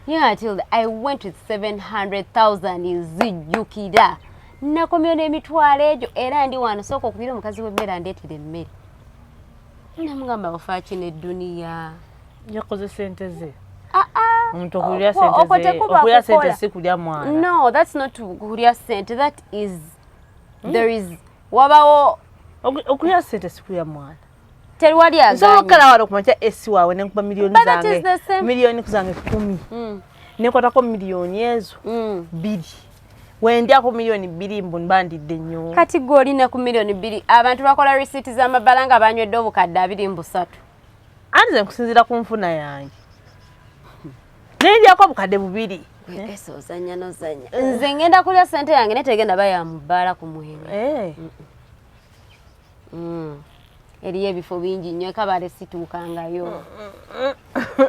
ye atilda i went with 700000 nzijjukira nakomyewo n'emitwalo egyo era ndi wano sooka okubira omukazi w'emmere andeetera emmere namugamba ofaaki n'edduniya yakoze sente ze ah, ah. omuntu okulya senteokulya sente si kulya mwana no that's not kulya sente that is hmm? there is wabawo okulya sente si kulya mwana Terwali aganye. Nsobola okukala wano kumakya esi waawe ne nkuba miliyoni zange. Miliyoni zange kumi. Mm. Ne nkwatako miliyoni ezo. Mm. Biri. Wendya ku miliyoni biri mbu mbandidde nnyo. Kati gwe olina ku miliyoni biri. Abantu bakola risiiti z'amabala nga banywedde obukadde abiri mbu satu. Anti ze nkusinziira ku nfuna yange. Ne ndyako obukadde bubiri. Ese ozanya nozanya. Nze ngenda kulya sente yange netegenda bayamubaala ku mwenge. Eh. Mm -mm. mm. eriyo ebifo bingi nnyo ekabale situukangayo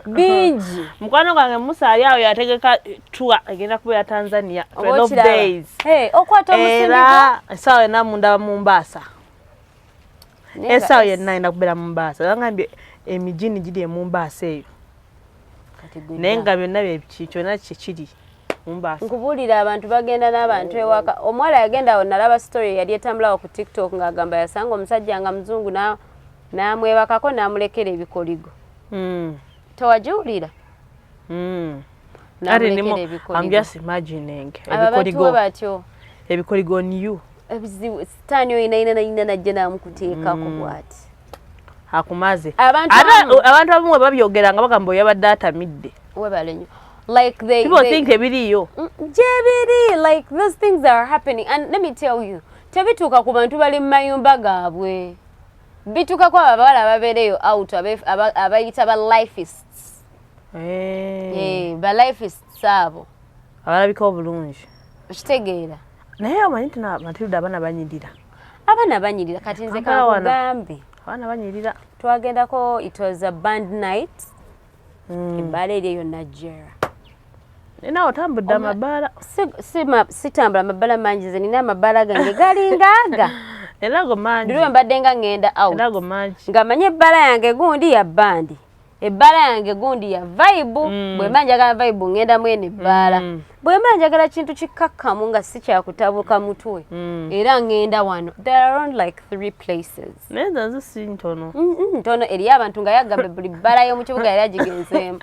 bingi mukwano gwange musa ali awo yategeka tua egenda kubeera tanzania okwata omusindiera esaawa yonna munda mumbaasa esaawa yenna enda kubeera mumbaasa angambye emijini giri emumbaasa eyo naye nga byonna kyona kyekiri nkubuulira abantu bagenda n'abantu ewaka omuwala yagenda awo nalaba story yali etambulawo ku tiktok ng'agamba yasanga omusajja nga muzungu n'amwebakako n'amulekera ebikoligo hmm. tewagiwulira hmm. ebikoligo new ebizibu sitaani oyinainanaina najja namukuteekako hmm. bwati akumaze abantu abamu webabyogera nga bagamba oyabadde atamidde webalenyo like they, people they, think ebiriyo mm, gyebiri like those things are happening and let me tell you tebituuka ku bantu bali mu mayumba gaabwe bituuka ku abawala ababeereyo out abayita ba lifists eh. eh, ba lifists abo abalabika obulungi okitegeera naye amanyi nti matilda abaana banyirira abana banyirira kati nze kakugambe abana banyirira twagendako it was a band night mm. ebbaala eri eyo najera nawe otambudde amabaala sitambula amabaala mangi ze nina amabaala gange galingaaga erago mangi diriwe mbadde nga ŋŋenda out erago mangi nga manye ebbaala yange gundi ya bandi ebbaala yange gundi ya vayibu mm. bwe mba njagala vayibu ngenda mwene ebbaala mm. bwe mba njagala kintu kikkakkamu nga si kyakutabuka mutwe mm. era ngenda wano there are around like three places naye zanze si ntono ntono eri abantu nga yagambe buli bbaala y'omu kibuga yali agigenzeemu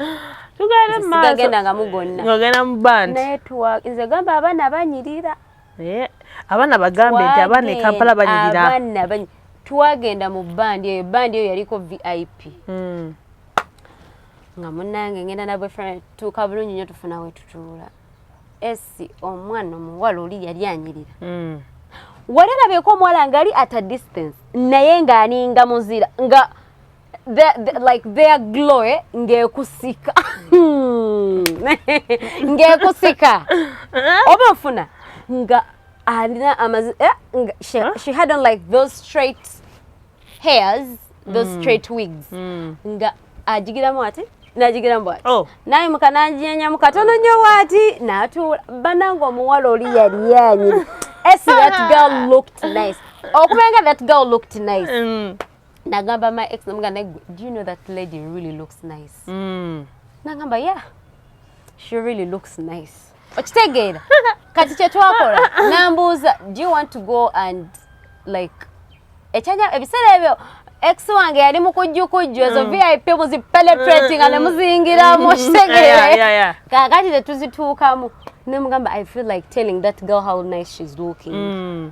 tugende maaso sigagenda nga mugonna ngagenda mu bandi naye tuwa nze gamba abaana banyirira Eh, abaana bagambe nti abaana e kampala banyirira twagenda mu bandi eyo bandi eyo yaliko vip hmm. nga munange ngenda nabwe tuuka bulungi nyo tufuna wetutuula esi omwana omuwala oli yali anyirira hmm. wali alabeeko omuwala ngaali at a distance naye ng'aninga muzira nga the, the, like their glory ngekusika hmm. ngekusika oba ofuna nga alina amazi eh, she, she had on like those straight hairs those mm. straight wigs mm. nga ajigiramu ati najigira mbwa oh. naye mukananjiyanyamu katono nyo wati natuula banange omuwala oli yali yanyi esi that girl looked nice okubenga that girl looked nice mm. nagamba my ex namuga naye do you know that lady really looks nice mm. nagamba yeah she really looks nice okitegeera kati kyetwakola nambuuza do you want to go and like ekyanya ebiseera ebyo ex wange yali mukujjukujju ezo mm. vip muzipenetrating mm, mm. nemuzingiramu mm. okitegeera kakati tetuzituukamu nemugamba i feel like telling that girl how nice she's looking mm.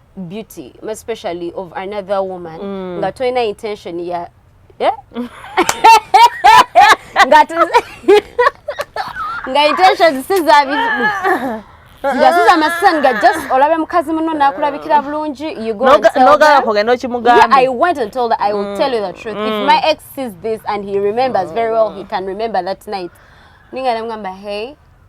beauty especially of another woman mm. nga tolina intention ya eh? nga nga intention sizabi nga siza amasisani nga just olabe mukazi muno nakulabikira bulungi nogala kugenda okimugamba i went and told her i will mm. tell you the truth mm. if my ex sees this and he remembers very well he can remember that night ninga namugamba hey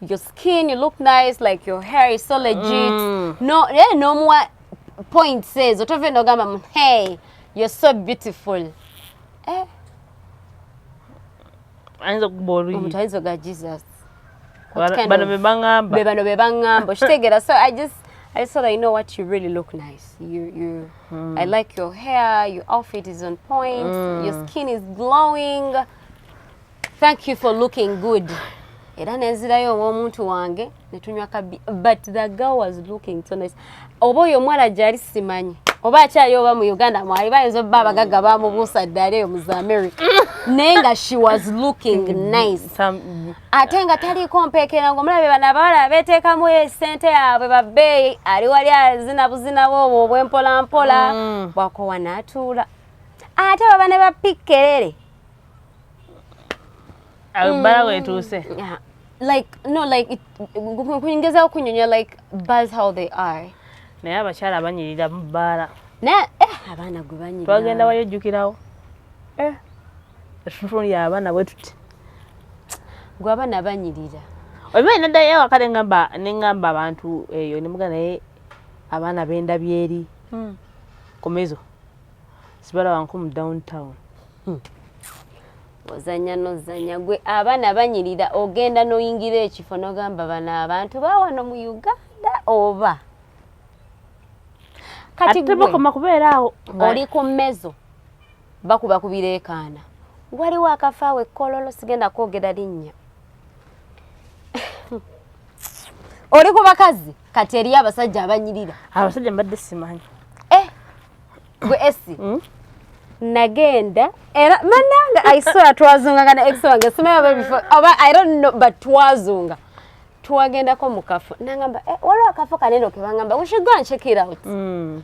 your skin you look nice like your hair is so legit mm. no yeah, no more point says otove no gamba hey you're so beautiful eh anza kubori mutayizo ga jesus bano bebangamba bebano bebangamba shitegera so i just I just thought I know what you really look nice. You, you, mm. I like your hair. Your outfit is on point. Mm. Your skin is glowing. thank you for looking good era nenzirayo owomuntu wange netunywa kabi but the girl was looking so nice oba oyo omuwala gyali simanyi oba akyali oba mu uganda mwali bayinza obba abagagga bamubuusa ddala eyo muza america naye nga she was looking nice ate nga taliiko mpeekera nga omulabe bano abawala beteekamu esente yaabwe babbeeyi ali wali azina buzinawo obwo obwempolampola mm. bwakowa naatuula ate baba ne bapikkerere Albala mm. wetuuse. Yeah. Like no like it kuyingiza okunyonya like bars how they are. Naye abakyala abanyirira mu bbaala. Naye eh abaana gwe banyirira. Twagenda wayo jjukirawo. Eh. Efunfun ya abaana bwe tuti. Gwe abaana banyirira. Obiba nenda yawo akale ngamba ne ngamba abantu eyo ne mugana naye abaana benda byeri. Mm. Komezo. sibalaba nko mu downtown hmm. ozanya nozanya gwe abaana banyirira ogenda noyingira ekifo nogamba bano abantu bawano mu uganda oba kati bakoma kubeera awo oli ku mmezo bakuba kubireekaana waliwo akafaawo ekkololo sigenda kwogera linnya oli ku bakazi kati eriyo abasajja abanyirira abasajja mbadde simanyi gwe esi hmm? nagenda era mananga aisora twazunganga na ex wange simanyi oba bifo oba i don't know but twazunga twagendako mu kafo nangamba eh, waliwo akafo kanene okebangamba we should go and check it out mm.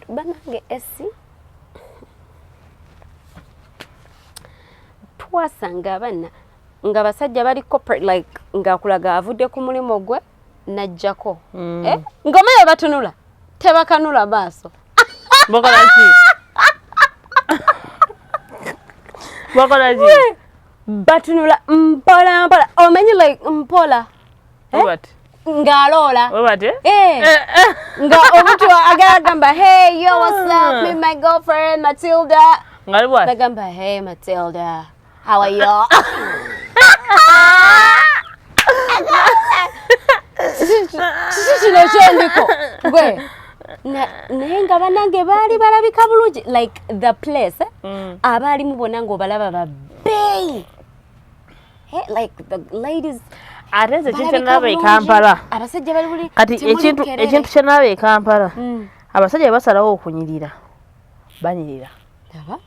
banange esi twasanga abana nga basajja bali corporate like ngakulaga avudde ku mulimu gwe najjako mm. eh? ngoma eyo batunula tebakanula maaso bakolaki bakolaki batunula mpola mpola omanyi like mpola eh? ng'aloola eh. Eh, eh. nga omuntu agala gamba hey yo whatsapp me my girlfriend matilda ngaliwagamba hey matilda อวัยวะ kino kyendiko gwe Na- naye nga banange baali balabika bulungi like the place eh? Mm. abaalimu bona ng'obalaba babeeyi Eh, like the ladies ate nze ekintu balabika kyenalaba e bulungi. kampala abasajja bali buli kati temuli ekintu bukerere. ekintu kyenalaba e kampala Mm. abasajja basalawo okunyirira banyirira laba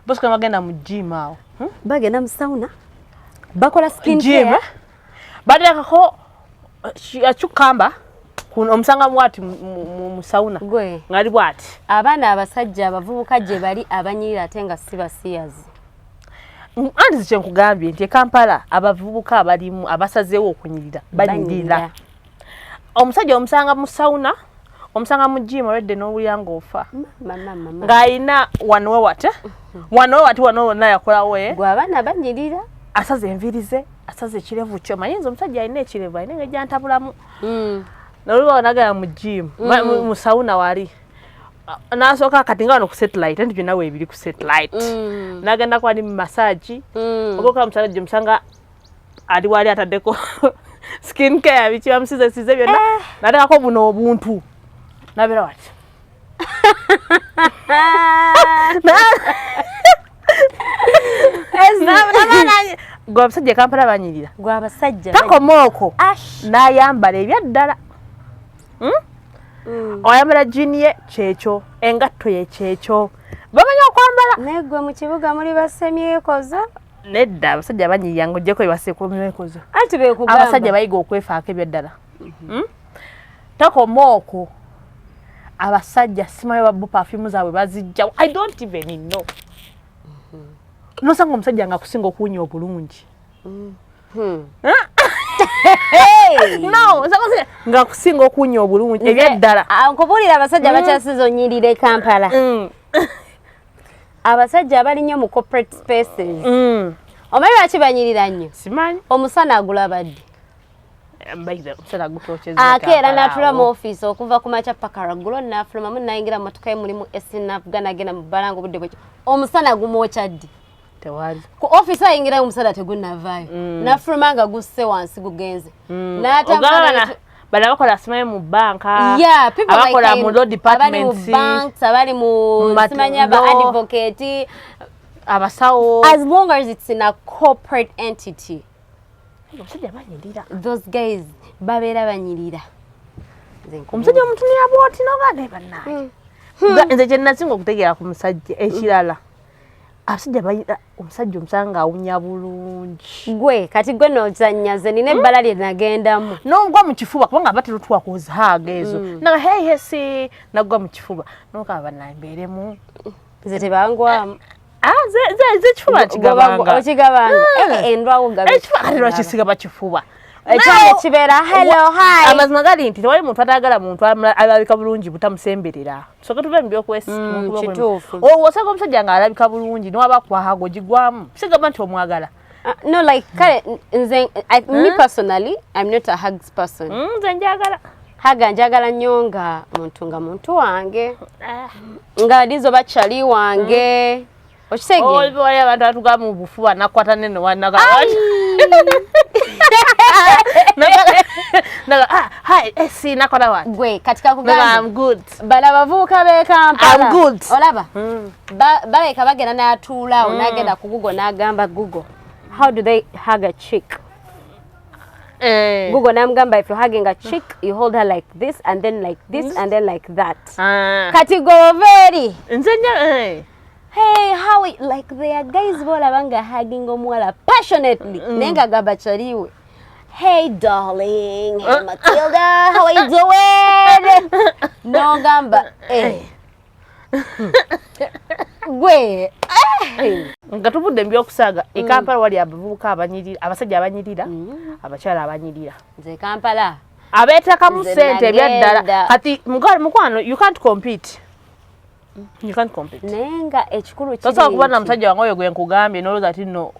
bosi kama bagenda mu gym awo hmm? bagenda mu sauna bakola skin gym eh? bateekako eh, cucumber omusanga bwati mu sauna ngali bwati abaana abasajja abavubuka gye bali abanyirira ate nga si basiyazi anti zikyenkugambye nti ekampala abavubuka abalimu abasazeewo okunyirira banyirira omusajja omusanga mu sauna omusanga mu jimu olwedde n'owulira ng'ofa ng'alina wanowe wate wanowe wati wanowe wonna yakolawe gwabaana banyirira asaza enviiri ze asaza ekirevu kyo manyi nze omusajja alina ekirevu alina engeri gyantabulamu hmm. nolubawo nagala mu jimu hmm. mu sauna wali nasooka kati nga wano ku satellite nti byonna weebiri ku satellite hmm. nagenda kwali mu masaagi ogoka omusala gye musanga ali wali ataddeko skin care biki bamusize size byonna eh. nateekako buno obuntu nabeera wati gwe abasajja kampala banyirira gwe abasajja takoma oko nayambala ebyaddala hmm? mm. oyambala jini ye kyekyo engatto ye kyekyo bamanyi okwambala naye gwe mu kibuga muli basemyekozo nedda abasajja banyiiya nga ojjeko ebasekomyekozo anti bekugamba abasajja bayiga okwefaako ebyaddala mhm. hmm? tokoma okwo abasajja simayo babu perfume zaabwe bazijjawo i don't even know mhm. nosanga omusajja nga kusinga okuwunya obulungi mhm. hmm. no nga kusinga okuwunya obulungi ebyaddala ah, nkubulira abasajja bakyasinza onyirire kampala hmm. abasajja abali nnyo mu corporate spaces mm. omanyi lwaki banyirira nnyo simanyi omusana agulaba ddi ake era natula mu ofiisi okuva ku makya paka raggulo nafulumamu nayingira mumotoka ye mulimu esinavuga nagenda mu bbala nga obudde bwekyo omusana gumwokya ddi tewali ku office ayingira omusala tegunavaayo mm. nafuluma nga gusse wansi gugenze mm. bali abakola simanyi mu banka abakola mu law departments abali mu simanya ba advocate abasawo as long as it's in a corporate entity omusajja banyirira those guys babeera banyirira omusajja omutunira bwoti nobaga banaye hmm. nze kyenasinga okutegeera ku musajja ekirala abasajja balina omusajja omusanga ng'awunya bulungi gwe kati gwe nozanyaze nina hmm? ebbala lye nagendamu nogwa mu kifuba kubanga aba terutwa kuzihaaga ezo hmm. naga heyesi nagwa mu kifuba nokaba banambeeremu nze tebangwamu ah, ah, zekifuba kigabangaokigabangakisiga eh, bakifuba ekyalo kibeera hello hi amazima gali nti tewali muntu atagala muntu alabika bulungi butamusemberera soke tuve mu byokwesiwosanga mm, omusajja nga alabika bulungi niwaba kwahaga ogigwamu sigamba nti omwagala Uh, no like kale nze I, huh? me personally I'm not a hugs person mm, nze njagala haga njagala nnyo nga muntu nga muntu wange ah. nga lizo bakyali wange mm. okitegeewaliyo abantu batuga mu bufuba nakwata neno wanaga bala abavubuka bekampalaolaba hmm. baleka bagenda natuulawo hmm. nagenda ku gugo nagamba gugo how do they hug a chick Eh. Google namgamba if you're hugging a chick you hold her like this and then like this mm. and then like that. Ah. Kati go very. Nzenja eh. Hey, how it, like they are guys bola banga hugging omwala passionately. Mm. Nenga gaba chariwe. Hey darling, hey Matilda, how are you doing? no gamba. Eh. Gwe. Eh. Nga tuvudde mbyo okusaga e mm. Kampala wali abavubuka abanyirira, abasajja abanyirira, mm. abakyala abanyirira. Nze Kampala. Abetakamu sente ebyaddala. Kati mukwano you can't compete. naye nga ekikulu tosobola kuba na musajja wange oyo gwe nkugambye nolowooza ti no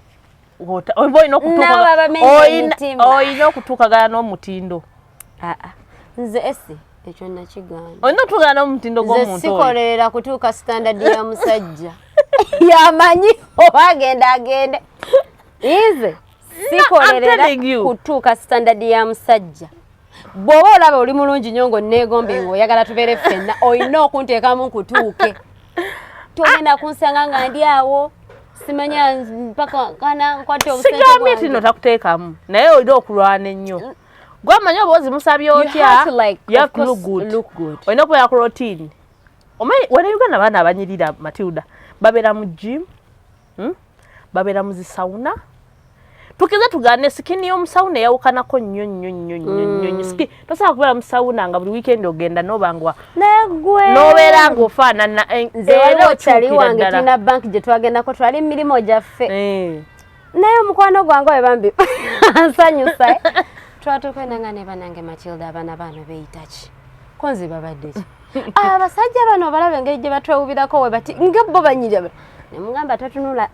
oba olina okutuukaolina okutuukagana n'omutindo ah, ah. nze esi ekyo nakigamba olina okutuukagana n'omutindo gw'omuntu sikolera kutuuka standard ya musajja yamanyi oba agenda agende ize sikolera kutuuka standard ya musajja bw'oba olaba oli mulungi nyo nga onneegombe nga oyagala tubeere ffenna olina okunteekamu nkutuuke togenda kunsanga nga ndi awo simanya mpaka kana nkwate obusigambye ti no takuteekamu naye olina okulwana ennyo gwamanyi oba ozimusabye otya olina okubeera ku rotiini omanyi wena uganda abaana abanyirira matilda babeera mu jimu hmm? babeera mu zisawuna tukeze tugane sikini y'omusawuna eyawukanako nnyo nnyo nnyo nnyo nnyo hmm. siki tosobola kubeera musawuna nga buli wiikendi ogenda n'oba nga n'obeera nga ofaanana eh, nze era okyali wange tulina banki gye twagendako twali mu mirimu gyaffe eh. naye omukwano gwange oyo bambi nsanyusa eh? twatukwenda nga ne banange matilda abaana baano beeyita ki konzi babadde ki Ah, abasajja bano obalaba engeri gye batwewubirako we bati nga bo banyirya ne mugamba totunula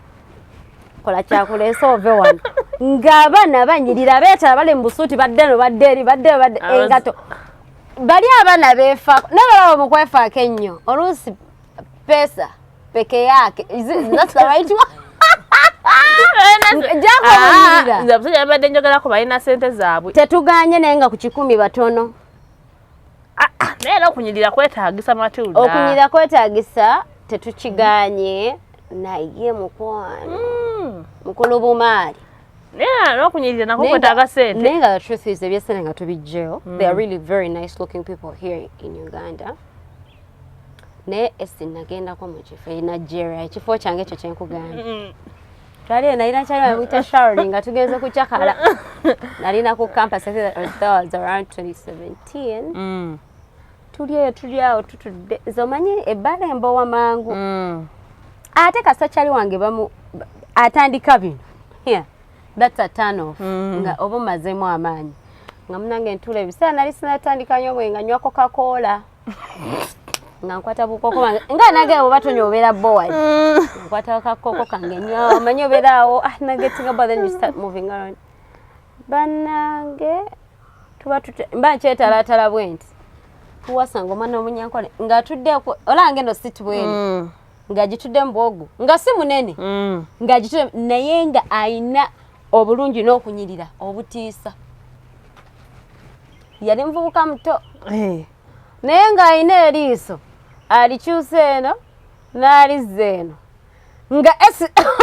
kola kyakuleese ove wano ng'abaana banyirira beetala bali mu busuuti badde no badde eri badde badde engato bali abaana beefaako naye balaba mu kwefaako ennyo oluusi pesa peke yake zinasikaraitwa nze abasajja babadde njogerako balina sente zaabwe tetuganye naye nga ku kikumi batono ah, ah, naye era okunyirira kwetagisa matilda okunyirira kwetagisa tetukiganye naye mukwano hmm. mukulu bumaali nokunyirira nako kwetaga sente naye nga the truth is ebyesente nga tubijjeyo hmm. they are really very nice looking people here in uganda naye esi nagendako mu kifo e nigeria ekifo kyange ekyo kyenkugambye hmm. twali eyo nalina kyali bamuyita sharoni nga tugenze kucakala nalina ku campus was around 2017 mm. tuli eyo tuli awo tutudde nze omanyi ebbala embowa mangu mm. ate kasita kyali wange bamu atandika bino that's a turn off mm. nga oba omazemu amaanyi nga munange ntula ebiseera nali sinatandika nyo bwe nga nywako kakoola nga nkwata bukoko bange nga nage abo batonya obeera board mm. nkwata kakoko kange nyo omanyi obeera awo ah, nage tinga but then you start moving around banange tuba tute mba nkyetalatala bwenti tuwasanga omwana omunyankole nga atudde olange no sit bweni mm. nga agitudde mubwogu nga si munene mm. nga agitudde naye nga ayina obulungi n'okunyirira obutiisa yali muvubuka muto eh. naye ng'alina eriiso alikyusa eno n'alizza eno nga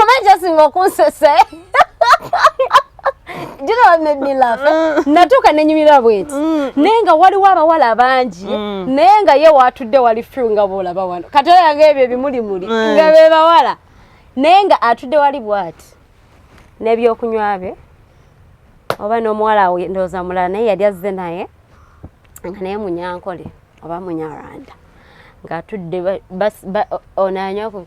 omanyi asinga okunsesa mm. natuuka nenyumira bweti mm. naye nga waliwo abawala bangi mm. naye nga ye watudde wali fi nga boolaba wano kati oyanga ebyo ebimulimuli nga bebawala naye nga atudde wali bwati n'ebyokunywa bye oba n'omuwala awo ndowooza mulala naye yali azze naye nga naye munyankole oba munyarwanda ng'atudde ono anywako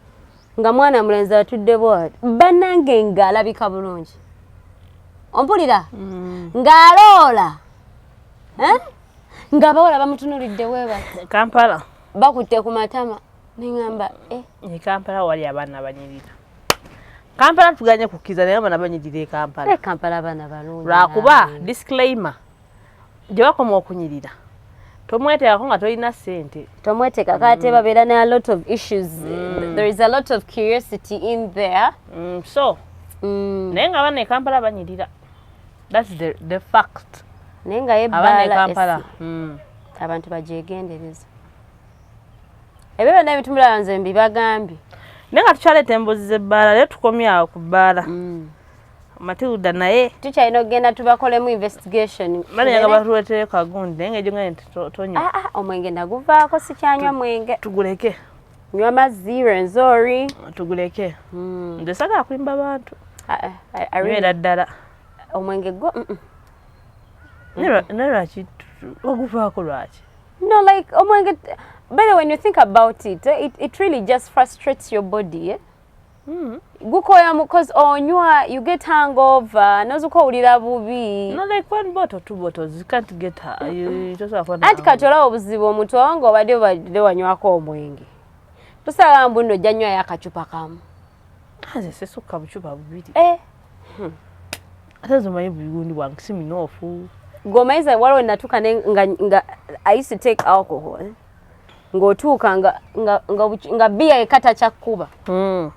nga mwana mulenzi atudde bwati bannange ng'alabika bulungi ompulira mm. ng'aloola eh? ng'abawala bamutunulidde weeba kampala bakutte ku matama neŋamba eh. e kampala wali abaana banyirira kampala tuganye kukkiriza naye abana banyirira ekampala eh, kampala abana balungi lwakuba disclaimer gye bakoma okunyirira tomweteekako nga tolina sente tomweteekako mm. ate babeera ne a lot of issues mm. there is a lot of curiosity in there mm, so mm. naye nga abana ekampala banyirira thats the, the fact naye nga yebaala mm. abantu bagyegendereza ebyo byonna ebintu mirala nze mbibagambye naye nga tukyaleeta embuzi z'ebbaala leero tukomye awo ku bbaala mm. matilda naye tukyalina okugenda tubakolemu investigation banayaga batuletere kagundi naye nga ejotonya ah, ah, omwenge naguvaako sikyanywa mwenge tuguleke nywa mazzi renzori tuguleke mm. nze sagala kulimba bantu ah, era ddala omwenge gwo naye lwaki oguvaako lwaki No, like, oh my God. By the way, when you think about it, eh, it, it really just frustrates your body. Eh? Mm. gukoya because onywa you get hangover nozuka owulira bubi no like one bottle two bottles you can't get her you just afford anti kati olaba obuzibu omuntu waba nga obadde obadde wanywako omwenge tosala mbu nno ojja nywayo akacupa kamu nze sisukka bucupa bubiri eh. hmm. ate nze omanyi bugundi bwange si munoofu ng'omanyiza waliwo natuuka nga i used to take alcohol eh? ng'otuuka nga biya yekka takyakkuba hmm.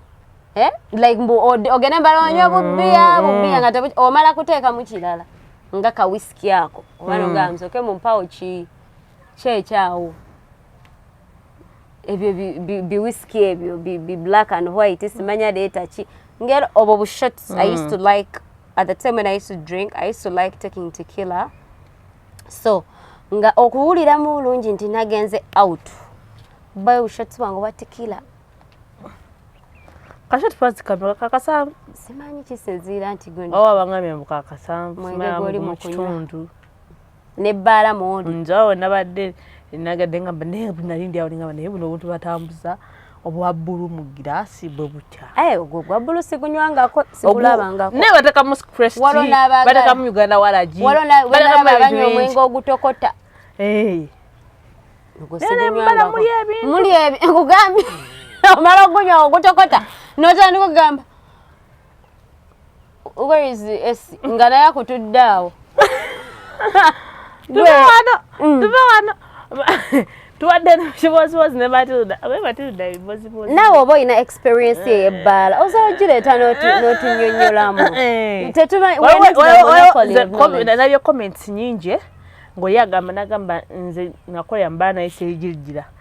eh? like mbu ogende mbala onywa bubiya hmm. bubiya nga omala kuteekamu kirala nga ka wisiki ako oba nogamzoke hmm. mumpawo ki kyekyawo ebyo biwisiki ebyo bi black and white simanya leeta ki ngeri obwo bushots i used to mm. like at the time when i used to drink i used to like taking tequila so nga okuwuliramu bulungi nti nagenze out bayo bushots bwange oba tequila kashoti pazikamira kakasamu simanyi kisinziira nti gwe oba bangambye mbu kakasamu mwenge goli mu kitundu ne bbaala mwoli njawo nabadde nagadde nga naye nali ndi awo ningamba naye buno obuntu batambuza obwa bbulu mu giraasi bwe butya eh, ogwo gwa bbulu sigunywangako sigulabangako naye batekamu crest batekamu uganda walagi batekamu abanywa omwenge ogutokota eh. muli ebi nkugambye omala ogunywa ogutokota notandika okugamba where is esi nga naye akutudde awo tuve wano mm. tuve wano tubadde nokibozibozi ne matilda abe matilda bibozibozi naawe oba olina experience eyo ebbaala eh. osobola ogireeta n'otunyonyolamu eh. tetubnabye comments nyingi eh? ngaoyo agamba nagamba nze nakola mbaana yeseyigirgira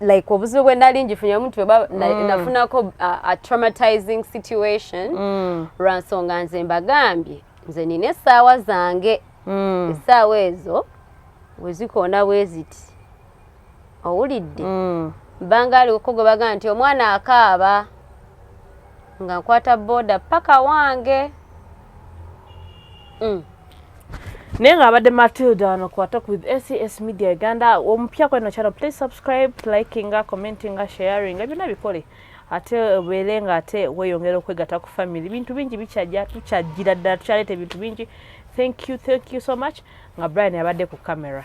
like obuzibu bwe nali ngifunye omuntu weba mm. nafunako uh, a traumatizing situation mm. lwa nsonga nze mbagambye nze nina essaawa zange mm. essaawa ezo wezikoona bweziti owulidde mm. mbanga aliko gwe bagamba nti omwana akaaba nga nkwata boda paka wange mm. naye nga abadde matilda wano kuwatok with acs media uganda omupya kweno channel please subscribe likinga commentinga sharinga byonna bikole ate obeere nga ate weyongera okwegata ku famiry bintu bingi bikyajja tukyajjira ddala tukyaleeta ebintu bingi thank you thank you so much nga brian abadde ku camera